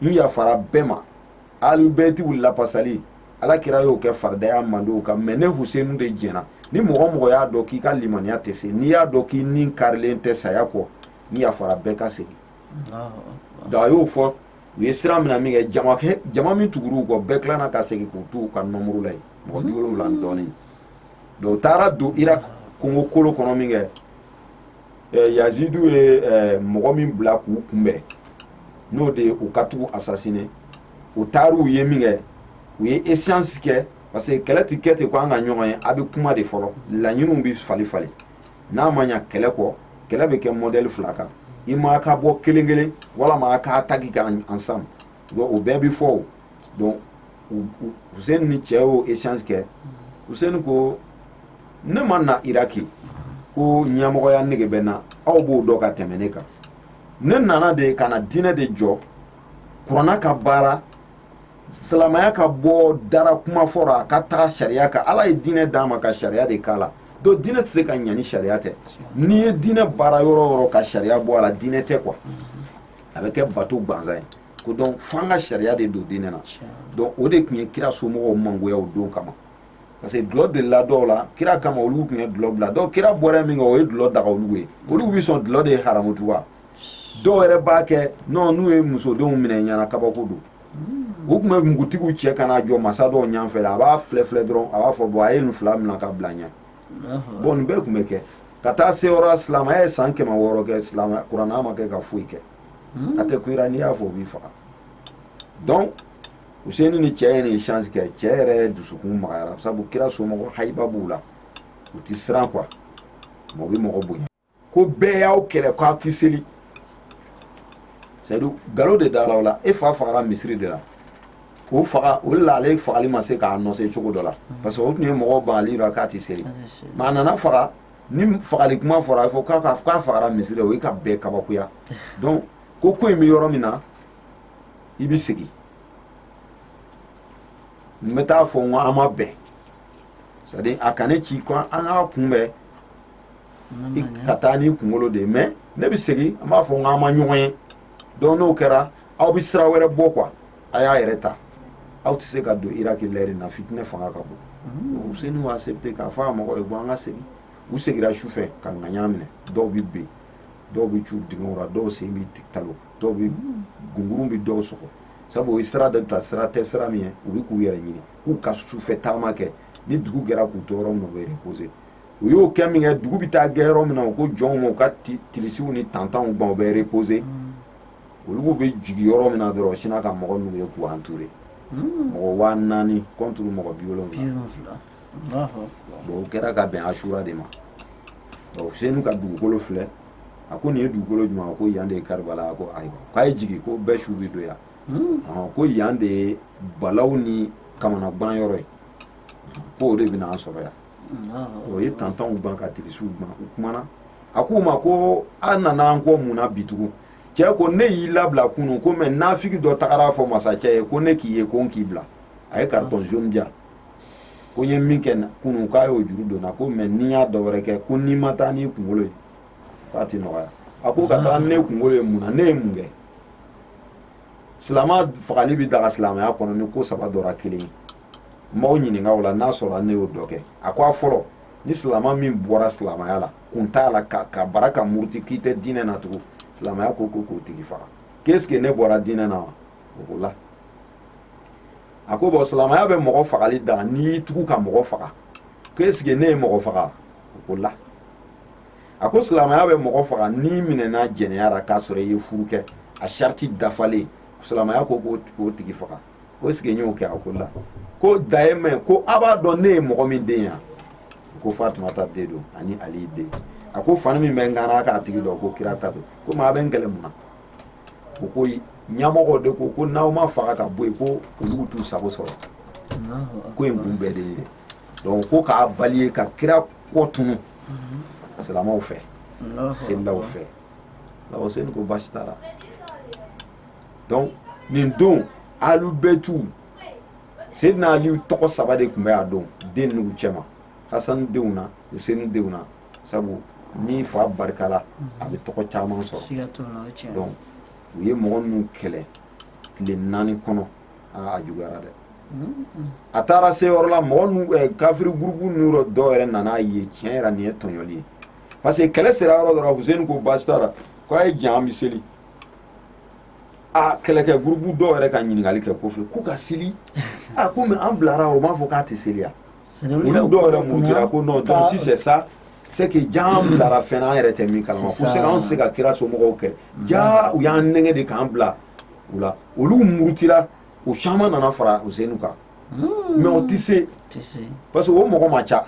n yafara bɛɛ ma alibɛtiw lafasali ala kira y'o kɛ farida ye a mandenw kan mais ne husenu de jɛnna ni mɔgɔ mɔgɔ y'a dɔn k'i ka limaniya tɛ se n'i y'a dɔn k'i ni karilen tɛ saya kɔ n yafara bɛɛ ka segin donc a y'o fɔ u ye sira mina min kɛ jama min tugur'u kɔ bɛɛ tilanna ka segin k'u t'u ka nombre la yen mɔgɔ bi wolonwula ni dɔɔnin donc u taara don irak kongo kolo kɔnɔ min kɛ eh, yazidu ye eh, mɔgɔ min bila k'u kunbɛn n'o de ye u ka tugu assassiner u taar'u ye min kɛ u ye échange kɛ parce que kɛlɛ ti kɛ ten ko an ka ɲɔgɔn ye a bɛ kuma de fɔlɔ laɲiniw bɛ fali fali n'a ma ɲa kɛlɛ kɔ kɛlɛ bɛ kɛ mɔdɛli fila kan i ma ka bɔ kelen kelen walama a k'attaquer ka ensemble bon o bɛɛ bɛ fɔ o donc Hussein ni cɛ y'o échange kɛ Hussein ko ne ma na Iraki ko ɲɛmɔgɔya nege bɛ n na aw b'o dɔn ka tɛmɛ ne kan ne nana de ka na diinɛ de jɔ kuranna ka baara silamɛya ka bɔ dara kuma fɔ ra a ka taga sariya kan ala ye diinɛ d'a ma ka sariya de k'a la donc diinɛ tɛ se ka ɲa ni sariya tɛ n'i ye diinɛ baara yɔrɔ o yɔrɔ ka sariya bɔ a la diinɛ tɛ quoi a bɛ kɛ bato gansan ye ko donc f'an ka sariya de don diinɛ na donc o de tun ye kira somɔgɔw mangoya o don kama parce que dulɔ delila dɔw la kira kama olu tun ye dulɔ bila donc kira bɔra min kɛ o ye dulɔ daga olu ye olu bɛ sɔn dulɔ de ye haramu tugun wa dɔw yɛrɛ b'a kɛ non n'u ye musodenw minɛ ɲɛna kabako don u tun bɛ npogotigiw cɛ ka n'a jɔ masa dɔw ɲɛfɛ a b'a filɛ filɛ dɔrɔn a b'a fɔ bon a ye nin fila minɛ ka bila ɲɛ bon nin bɛɛ tun bɛ kɛ ka taa se yɔrɔ silamɛya ye san kɛmɛ wɔɔrɔ kɛ silamɛya kuranna ma kɛ ka foyi kɛ a tɛ kuyira n'i y'a fɔ o b'i faga donc useni ni cɛ ye nin échange kɛ cɛ yɛrɛ dusukun magayara sabu kira somɔgɔ hayiba b'u la u ti siran quoi mais u bɛ mɔgɔ bonya ko bɛɛ y'aw kɛlɛ k'aw ti seli c'est à dire galo de dara aw la e fa fagara misiri de la k'o faga o de la ale fagali ma se k'annoncer cogo dɔ la parce que o tun ye mɔgɔw bangali la k'a ti seli mais a nana faga ni fagali kuma fɔra a fɔ k'a fagara misiri o ye ka bɛɛ kabakoya donc ko ko in bɛ yɔrɔ min na i bɛ segin n bɛ t'a fɔ n ko an ma bɛn c'est à dire a ka ne ci ko an k'a kunbɛn ka taa n'i kunkolo de ye mais ne bɛ segin n b'a fɔ n k'an ma ɲɔgɔn ye donc n'o kɛra aw bɛ sira wɛrɛ bɔ quoi a y'a yɛrɛ ta aw tɛ se ka don iraki lɛri na fitinɛ fanga ka bon useni y'o accepter k'a fɔ a mɔgɔ ye bon an ka segin u segira su fɛ ka ŋaɲa minɛ dɔw bɛ ben dɔw bɛ cu dingɛw la dɔw sen bɛ talo dɔw bɛ gungurun bɛ dɔw sɔgɔ sabu o ye sira dɔ ta sira tɛ sira min ye u bɛ k'u yɛrɛ ɲini k'u ka sufɛ taama kɛ ni dugu gɛra k'u to yɔrɔ min na u bɛ reposer u y'o kɛ min kɛ dugu bɛ taa gɛ yɔrɔ min na u ko jɔnw ma u ka tirisiw ni tantanw ban u bɛ reposer olu bɛ jigin yɔrɔ min na dɔrɔn sina ka mɔgɔ n'u ye k'u entourer hmm. mɔgɔ waa naani contre mɔgɔ bi wolonwula bon o kɛra ka bɛn ashura de ma donc useni ka dugukolo filɛ a ko nin ye dugukolo jumɛn a ko yan de ye karibala a ko ayiwa k'a ye jigin ko bɛɛ su bɛ don yan hmm. ko yan de ye balaw ni kamanagan yɔrɔ ye ko o de bɛna an sɔrɔ yan o ye tantanw ban ka tirisiw ban u kumana a k'u ma ko a nana an kɔ mun na bi tugun cɛ ko ne y'i labila kunu ko mais nafigi dɔ tagara fɔ masacɛ ye ko ne k'i ye ko n k'i bila a ye carton jaune di yan ko n ye min kɛ kunu k'a y'o juru don n na ko mais n'i y'a dɔ wɛrɛ kɛ ko n'i ma taa n'i kunkolo ye k'a ti nɔgɔya a ko ka taa ne kunkolo ye mun na ne ye mun kɛ silama fagali bi daga silamɛya kɔnɔ ni ko saba dɔ ra kelen ye m'aw ɲininka o la n'a sɔrɔ ne y'o dɔ kɛ a ko a fɔlɔ ni silama min bɔra silamɛya la kun t'a la ka bara ka muruti k'i tɛ diinɛ na tugun silamɛya ko ko k'o tigi faga qu'est-ce que ne bɔra diinɛ na wa o ko la a ko bon silamɛya bɛ mɔgɔ fagali daga n'i y'i tugu ka mɔgɔ faga qu'est-ce que ne ye mɔgɔ faga o ko la a ko silamɛya bɛ mɔgɔ faga n'i minɛna jɛnɛya la k'a sɔrɔ i ye furu kɛ a sariti dafalen silamɛya ko k'o tigi faga ko est-ce que n y'o kɛ a ko la ko daye ma ko a b'a dɔn ne ye mɔgɔ min den yan ko fatumata den don ani ali den a ko fani min bɛ n kan n'a k'a tigi dɔn ko kira ta don ko maa bɛ n kɛlɛ mun na o ko ɲɛmɔgɔ de ko ko n'aw m'a faga ka bɔ yen ko olu t'u sago sɔrɔ ko in kun bɛɛ de ye donc ko k'a bali ye ka kira kɔ tunu silamɛw fɛ selilaw fɛ la useni ko baasi t'a la donc nin don alubɛtu sedina ali tɔgɔ saba de tun bɛ a don den ninnu cɛma hasani denw na useni denw na sabu n'i fa barikala a bɛ tɔgɔ caman sɔrɔ donc u ye mɔgɔ ninnu kɛlɛ tile naani kɔnɔ aa a juguyara dɛ a taara se yɔrɔ la mɔgɔ ninnu eh, kafiri gurupu ninnu dɔ dɔw yɛrɛ nan'a ye tiɲɛ yɛrɛ nin ye tɔɲɔli ye parce que kɛlɛ sera yɔrɔ dɔ la huseni ko baasi t'a la ko a ye jan an bɛ seli a kɛlɛkɛ gurupu dɔw yɛrɛ ka ɲininkali kɛ kɔfɛ k'u ka seli a ko mais an bilara o m'a fɔ k'a tɛ seli ya olu dɔw yɛrɛ murutira ko non donc si c'est ça c'est que jaa an bilara fɛn na an yɛrɛ tɛ min kalama ko se anw tɛ se ka kira somɔgɔw kɛ jaa u y'an nɛgɛn de k'an bila u la olu murutira u caman nana fara usenu kan mais o tɛ se parce que o mɔgɔ ma ca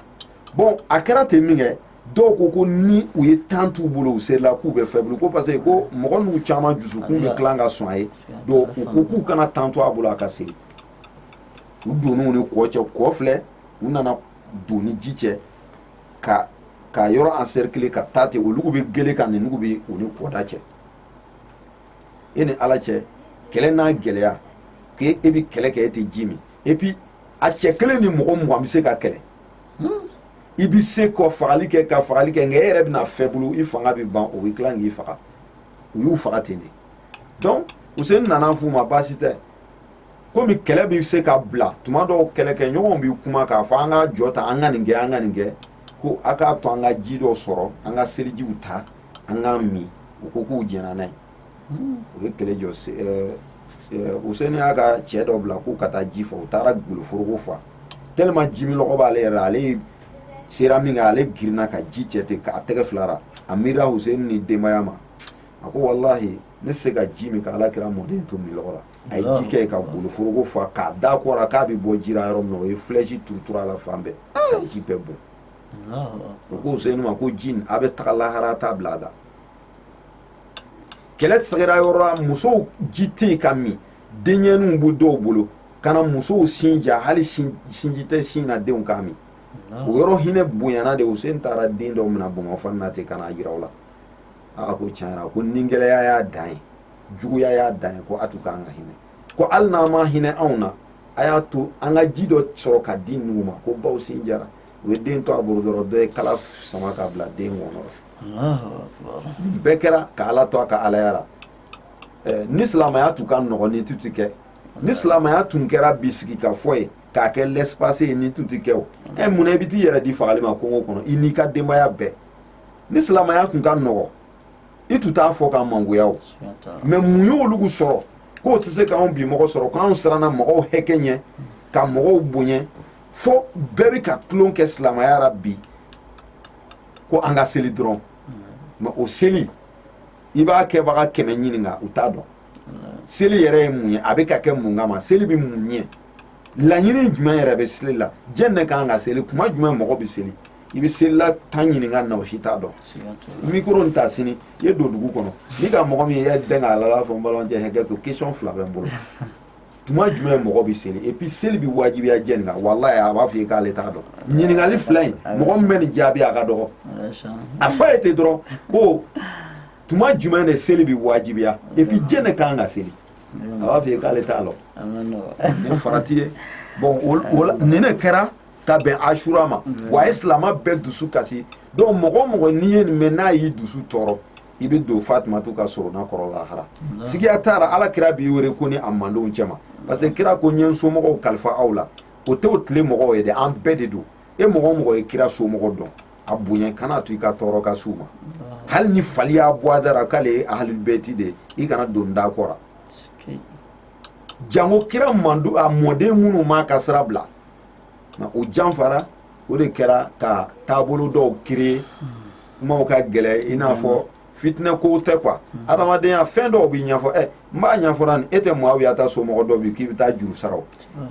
bon a kɛra ten min kɛ dɔw ko ko ni u ye temps t'u bolo u serila k'u bɛ faible ko parce que ko mɔgɔ ninnu caman dusukun bɛ tilan ka sɔn a ye donc u ko k'u kana temps to a bolo a ka seli u donn'u ni kɔ cɛ kɔ filɛ u nana don ni ji cɛ ka yɔrɔ encercler ka taa ten olugu bɛ gele kan ninugu bɛ u ni kɔda cɛ e ni ala cɛ kɛlɛ n'a gɛlɛya k'e e bɛ kɛlɛ kɛ e tɛ ji min et puis a cɛ kelen ni mɔgɔ mugan bɛ se ka kɛlɛ hmm? i bɛ se ka fagali kɛ ka fagali kɛ nka e yɛrɛ bɛna faible i fanga bɛ ban o bɛ tila k'i faga u y'u faga ten de donc useni nana f'u ma baasi tɛ komi kɛlɛ bɛ se ka bila tuma dɔw kɛlɛkɛɲɔgɔnw bɛ kuma k'a fɔ an ka jɔ ta an ka nin kɛ an ka nin kɛ ko a k'a to an ka ji dɔ sɔrɔ an ka selijiw ta an k'a min u ko k'u jɛnna n'a ye u ye kɛlɛ jɔ useni y'a ka cɛ dɔ bila k'u ka taa ji fɔ u taara goloforoko fa tellement ji minlɔgɔ b'ale yɛrɛ la ale sera min kɛ ale girinna ka ji cɛ ten k'a tɛgɛ fila ra a miirira useni ni denbaya ma a ko walahi n tɛ se ka ji min ka ala kira mɔden to minlɔgɔ la a ye ji kɛ ka goloforoko fa k'a da kɔ ra k'a bɛ bɔ ji ra yɔrɔ min na o ye flèche turuturu a la fan bɛɛ ka ji bɛɛ bɔn o ko useni ma ko ji a bɛ taga lahara t'a bila a da kɛlɛ sigira yɔrɔ la musow ji tɛ yen ka min denyɛninw bɛ dɔw bolo ka na musow sin ja hali sinji tɛ sin na denw k'a min o yɔrɔ hinɛ bonyana de useni taara den dɔ minɛ bamufani na ten ka n'a jira u la a ko tiɲɛ yɛrɛ ko ningɛlɛya y'a dan ye juguya y'a dan ye ko a tun ka kan ka hinɛ ko hali n'a ma hinɛ anw na a y'a to an ka ji dɔ sɔrɔ ka di ninnu ma ko baw sin jara u ye den to a bolo dɔrɔn dɔ ye kala sama ka bila den kɔnɔ bɛɛ kɛra ka ala to a ka alaya la ni silamaya tun ka nɔgɔn nin tun tɛ kɛ ni silamaya tun kɛra bi sigi ka fɔ ye k'a kɛ l'espace ye nin tun tɛ kɛ o ɛ munna i bɛ t'i yɛrɛ di fagali ma kungo kɔnɔ i n'i ka denbaya bɛɛ ni silamaya tun ka nɔgɔn i tun t'a fɔ k'an mangoya o mais mun y'olu sɔrɔ k'o tɛ se k'anw bi mɔgɔ sɔrɔ k'anw siranna mɔgɔw hɛkɛ ɲɛ ka mɔgɔw bonya fo bɛɛ bɛ ka tulon kɛ silamaya la bi ko an ka seli dɔrɔn mais o seli i b'a kɛbaga kɛmɛ ɲininka u t'a dɔn seli yɛrɛ ye mun ye a bɛ ka kɛ mun kama seli bɛ mun ɲɛ laɲini jumɛn yɛrɛ bɛ seli la jɛn ne kan ka seli kuma jumɛn mɔgɔ bɛ seli i bɛ selila tan ɲininka na u si t'a dɔn mikoro nin ta sini i ye don dugu kɔnɔ n'i ka mɔgɔ min ye i y'a dɛn k'a lala fɔ n balimakɛ hakɛ to question fila bɛ n bolo tuma jumɛn mɔgɔ bɛ seli et puis seli bɛ wajibiya jɛn kan walayi a b'a fɔ i ye k'ale t'a dɔn ɲininkali fila in mɔgɔ min bɛ nin jaabi a ka dɔgɔ a fɔ a ye ten dɔrɔn ko tuma jumɛn de seli bɛ wajibiya et puis jɛn de kan ka seli a b'a fɔ i ye k'ale t'a dɔn nin farati ye bon nin de kɛra ka bɛn asura ma wa a ye silamɛ bɛɛ dusu kasi donc mɔgɔ o mɔgɔ n'i ye nin mɛn n'a y'i dusu tɔɔrɔ i bɛ don fatumatu ka sorona kɔrɔ lahara sigiya t'a ra ala kira b'i wele ko ni a mandenw cɛma parce que kira ko n ye n somɔgɔw kalifa aw la o tɛ o tile mɔgɔw ye dɛ an bɛɛ de don e mɔgɔ o mɔgɔ ye kira somɔgɔ dɔn a bonya kana a to i ka tɔɔrɔ ka s'u ma hali ni fali y'a bɔ a da ra k'ale ye ahalibɛti de i kana don da kɔra jango kira mandu a mɔden minnu m'a ka sira bila o janfara o de kɛra ka taabolo dɔw créer kumaw ka gɛlɛ i n'a fɔ fitinɛ kow tɛ quoi adamadenya fɛn dɔw bɛ ɲɛfɔ ɛ n b'a ɲɛfɔra ni e tɛ Muawiya ta somɔgɔ dɔ bi k'i bɛ taa juru sara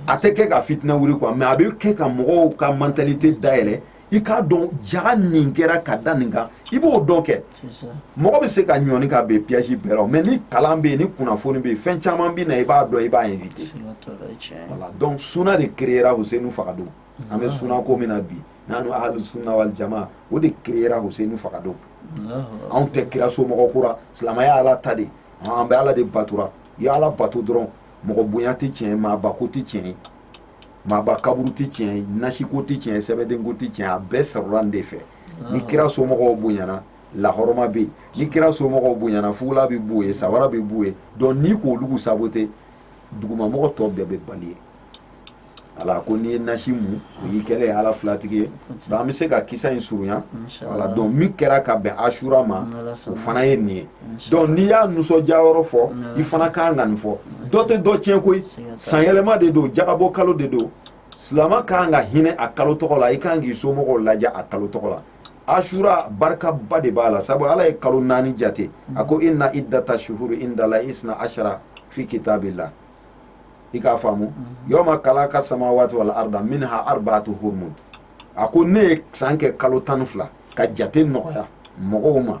a tɛ kɛ ka fitinɛ wuli quoi mais a bɛ kɛ ka mɔgɔw ka mentalité dayɛlɛ i k'a dɔn jaga nin kɛra ka da nin kan i b'o dɔn kɛ mɔgɔ bɛ se ka ɲɔni ka bin piège bɛɛ la mais ni kalan bɛ yen ni kunnafoni bɛ yen fɛn caman bɛ na i b'a dɔn i b'a éviter voilà donc suna de créera Husenu fagadon an bɛ suna ko min na bi n'an n'o ahlu sunna wal jama o de créera Husenu fagadon anw tɛ kira somɔgɔ ko ra silamɛya ala ta de an bɛ ala de batora i ye ala bato dɔrɔn mɔgɔ bonya tɛ tiɲɛ ye maaba ko tɛ tiɲɛ ye maaba kaburu tɛ tiɲɛ ye nasiko tɛ tiɲɛ ye sɛbɛdenko tɛ tiɲɛ a bɛɛ sɔrɔra nin de fɛ ah. ni kira somɔgɔw bonyana lahɔrɔma bɛ yen ni kira somɔgɔw bonyana fugula bɛ b'u ye sabara bɛ b'u ye donc n'i k'olu saboter dugumamɔgɔ tɔ bɛɛ bɛ bali ye ala ko n'i ye nasi mu o y'i kɛlen ye ala filatigi ye donc an bɛ se ka kisa in surunya voilà donc min kɛra ka bɛn asura ma o fana ye nin ye donc n'i y'a nisɔndiya yɔrɔ fɔ i fana ka kan ka nin fɔ dɔ tɛ dɔ tiɲɛ koyi sanyɛlɛma de don jagabɔ kalo de don silama ka kan ka hinɛ a kalo tɔgɔ la i ka kan k'i somɔgɔw lajɛ a kalo tɔgɔ la asura barikaba de b'a la sabu ala ye kalo naani jate a ko inna iddata shuhuri indala isna ashara fi kitabillah i k'a faamu mhm. yawma kalaka samawati wal arda minha arbaatu hurum a ko ne ye san kɛ kalo tan ni fila ka jate nɔgɔya mɔgɔw ma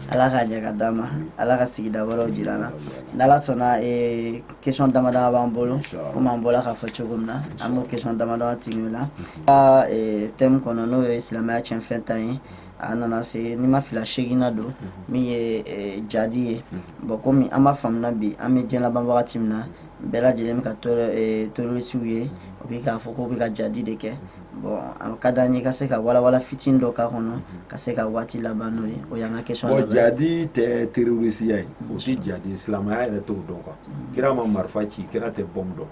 ala k'a ɲɛ ka d'an ma ala ka sigida wɛrɛw jira an na n'ala sɔnna eh, question dama dama b'an bolo komi an bɔla k'a fɔ cogo min na an b'o question dama dama tigi la ka eh, thème kɔnɔ n'o ye silamɛya cɛnfɛn ta ye a nana se n'i ma fila seginna don min ye eh, jadi ye bɔn komi an b'a faamuna bi an bɛ diɲɛ laban wagati min na bɛɛ lajɛlen bɛ ka terorisiw ye o bɛ k'a fɔ k'o bɛ ka jadi de kɛ bon a ka d'an ye ka se ka walawala fitini dɔ k'a kɔnɔ ka se ka waati laban n'o ye o y'an ka question bon jadi
tɛ terrorisiya ye o tɛ jadi silamɛya yɛrɛ t'o dɔn quoi kira ma marifa ci kira tɛ bɔmu dɔn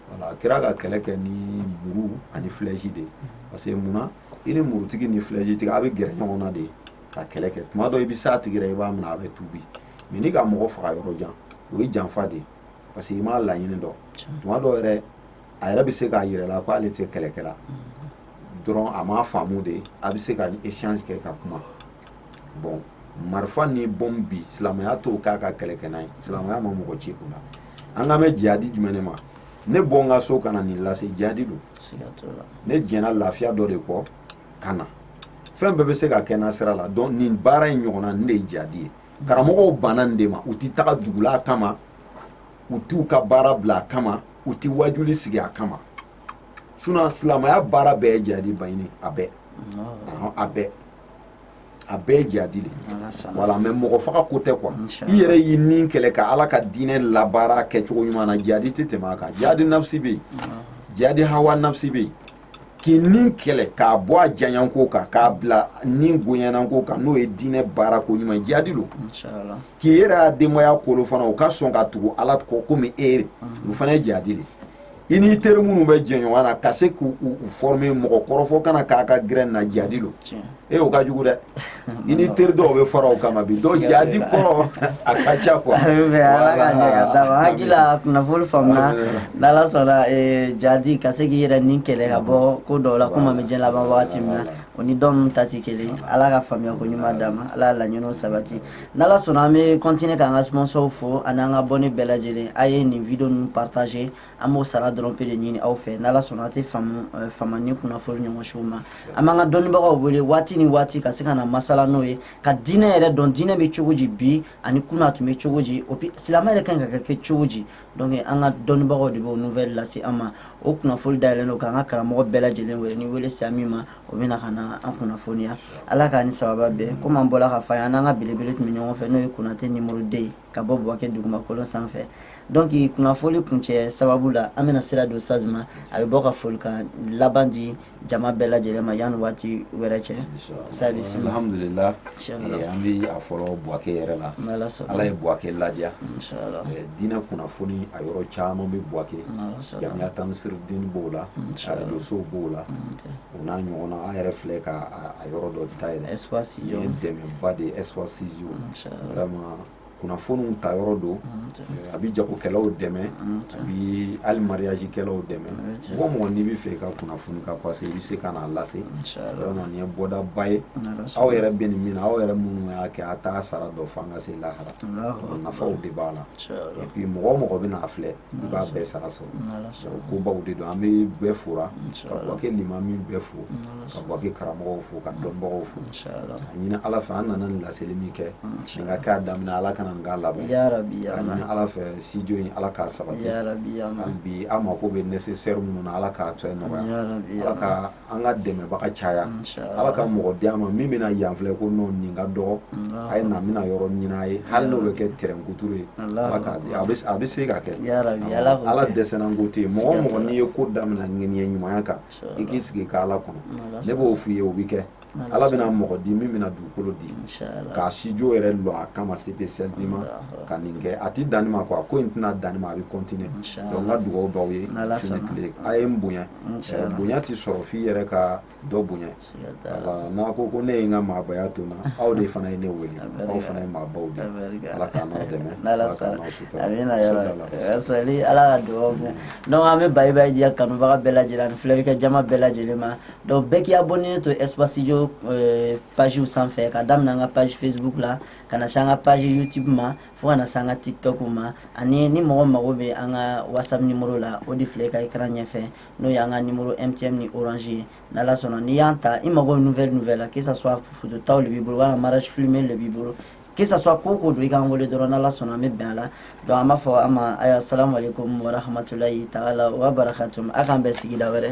voilà kira ka kɛlɛ kɛ ni muru ani flèche de parce que mun na i ni murutigi ni flèche tigi a bɛ gɛrɛ ɲɔgɔn na de ka kɛlɛ kɛ tuma dɔ i bɛ s'a tigi la i b'a minɛ a bɛ tuubi mais n'i ka mɔgɔ faga yɔrɔ jan o ye janfa de ye parce que i m'a laɲini dɔn tuma dɔ yɛrɛ a yɛrɛ bɛ se k'a yir'i la ko ale tɛ kɛlɛkɛla dɔrɔn a m'a faamu de a bɛ se ka échange kɛ ka kuma bon marifa ni bɔmu bi silamɛya t'o k'a ka kɛlɛ kɛ n'a ye silamɛya ma mɔgɔ ci o la an kan bɛ jihadi jumɛn de ma ne bɔ n ka so ka na nin lase jihadi don ne jɛnna lafiya dɔ de kɔ ka na fɛn bɛɛ bɛ se ka kɛ n'a sira la donc nin baara in ɲɔgɔnna nin de ye jihadi ye karamɔgɔw banna nin de ma u tɛ taga dugula kama u t'u ka baara bila a kama u ti wajuli sigi a kama sinon silamaya baara bɛɛ ye jihadi baɲini a bɛɛ a bɛɛ a bɛɛ ye jihadi de voilà mais mɔgɔ faga ko tɛ quoi i yɛrɛ y'i ni kɛlɛ ka ala ka diinɛ labaara kɛcogo ɲuman na jihadi tɛ tɛmɛ a kan jihadi nafsi bɛ yen jihadi hawa nafsi bɛ yen k'i ni kɛlɛ k'a bɔ a janyanko kan k'a bila ni gonyanako kan n'o ye diinɛ baara ko ɲuman jihadi lo k'i yɛrɛ ya denbaya kolo fana u ka sɔn ka tugu ala kɔ komi e o fana ye jihadi le i n'i teri minnu bɛ jɛ ɲɔgɔn na ka se k'u former mɔgɔ kɔrɔfɔ kana k'a ka gɛrɛ na jihadi lo e o ka jugu dɛ i ni teri dɔw bɛ fara o kama bi dɔw jihadi kɔrɔ a ka ca quoi ala ka ɲɛ
ka d'an ma hakilila kunnafoni faamuna n'ala sɔnna e, jihadi ka se k'i yɛrɛ ni kɛlɛ ka bɔ ko dɔw la komi an bɛ diɲɛ laban wagati min na o ni dɔw ta tɛ kelen ala ka faamuya ko ɲuman d'an ma ala ka laɲiniw sabati n'ala sɔnna an bɛ continuer k'an ka sponsor fo ani an ka abonné bɛɛ lajɛlen a ye nin video ninnu partager an b'o sara dɔrɔn pe de ɲini aw fɛ n'ala sɔnna a tɛ fama ni kunnafoni ɲɔgɔn siw ma an b'an ka dɔnnibagaw wele waati ni waati ka se ka na masala n'o ye ka diinɛ yɛrɛ dɔn diinɛ bɛ cogo di bi ani kunun a tun bɛ cogo di o silamɛ yɛrɛ kan ka kɛ cogo di donc an ka dɔnnibagaw de b'o nouvelle lase an ma o kunnafoni dayɛlɛn don k'an ka karamɔgɔ bɛɛ lajɛlen wele ni wele sera min ma o bɛna ka na an kunnafoniya ala k'a ni sababa bɛn komi an bɔla k'a fɔ a ye an n'an ka belebele tun bɛ ɲɔgɔn fɛ n'o ye konate numéro deux ye ka bɔ buwake dugumakolo sanfɛ donc kunnafoli kuncɛ sababu la an bɛna sira don saz ma a bɛ bɔ ka folikan laban di jama bɛɛ lajɛlen ma yanni waati wɛrɛ cɛ alhamdulillah
eh, an bɛ a fɔlɔ buwake yɛrɛ la ala ye buwake ladiya eh, diinɛ kunnafoni a yɔrɔ caman bɛ buwake jamiya tamisiriden b'o la arajosow b'o la o n'a ɲɔgɔnna an yɛrɛ filɛ ka a yɔrɔ dɔ dayɛlɛ nin ye dɛmɛba de ye espace vraiment kunnafoniw ta yɔrɔ don eh, a bɛ jagokɛlaw dɛmɛ a bɛ hali mariage kɛlaw dɛmɛ mɔgɔ mɔgɔ n'i bɛ fɛ i ka kunnafoni ka passer i bɛ se ka n'a lase vraiment nin ye bɔdaba ye aw yɛrɛ bɛ nin min na aw yɛrɛ minnu y'a kɛ a t'a sara dɔn fo an ka se lahara nafaw de b'a la et puis mɔgɔ o mɔgɔ bɛn'a filɛ i b'a bɛɛ sara sɔrɔ kobaw de don an bɛ bɛɛ fora ka buwake limami bɛɛ fo ka buwake karamɔgɔw fo ka dɔnbagaw fo ɲinin ala fɛ an nana nin laseli min kɛ nin ka k'a daminɛ ala kana nin k'a laban k'a
ɲinin ala fɛ
studio in ala k'a sabati hali
bi an mako bɛ
nécessaire minnu na ala k'a fɛn nɔgɔya ala ka an ka dɛmɛbaga caya ala ka mɔgɔ di an ma min bɛna yan filɛ ko non nin ka dɔgɔ a ye na n bɛna yɔrɔ ɲinin a ye hali n'o bɛ kɛ terrain kuturu ye ala k'a di a bɛ se ka kɛ ala dɛsɛnna ko tɛ yen mɔgɔ mɔgɔ n'i ye ko daminɛ ŋaniya ɲumanya kan i k'i sigi k'ala kɔnɔ ne b'o f'i ye o bɛ kɛ ala bɛna mɔgɔ di min bɛna dugukolo di k'a studio yɛrɛ lɔ a kama spécialement ka nin kɛ a tɛ dan nin ma quoi ko in tɛna dan nin ma a bɛ continuer donc n ka dugawu b'aw ye su ni tile a ye n bonya bonya tɛ sɔrɔ f'i yɛrɛ ka dɔ bonya voilà n'a ko ko ne ye n ka maabaya to n na aw de fana ye ne wele aw fana ye maabaw de ala k'an n'aw dɛmɛ ala k'an n'aw
sutura ala ka dugawu donc an bɛ bayi bayi di an kanubaga bɛɛ lajɛlen ani filɛlikɛ jama bɛɛ lajɛlen ma donc bɛɛ k'i abonné to espace studio euh, page sanfɛ ka daminɛ an ka page facebook la ka na se an ka page youtube ma fo ka na se an ka tiktok ma ani ni mɔgɔ mago bɛ an ka whatsapp numéro la o de filɛ ka écran ɲɛfɛ n'o y'an ka numéro mtn ni orange ye n'ala sɔnna n'i y'an ta i mago nouvelle nouvelle la que ça soit photo ta le b'i bolo walima mariage filmé le b'i bolo que ça soit ko o ko don i k'an wele dɔrɔn n'ala sɔnna an bɛ bɛn a la donc an b'a fɔ aw ma assalamu aleykum warahmatulahi taala wa barakatum a k'an bɛn sigida wɛrɛ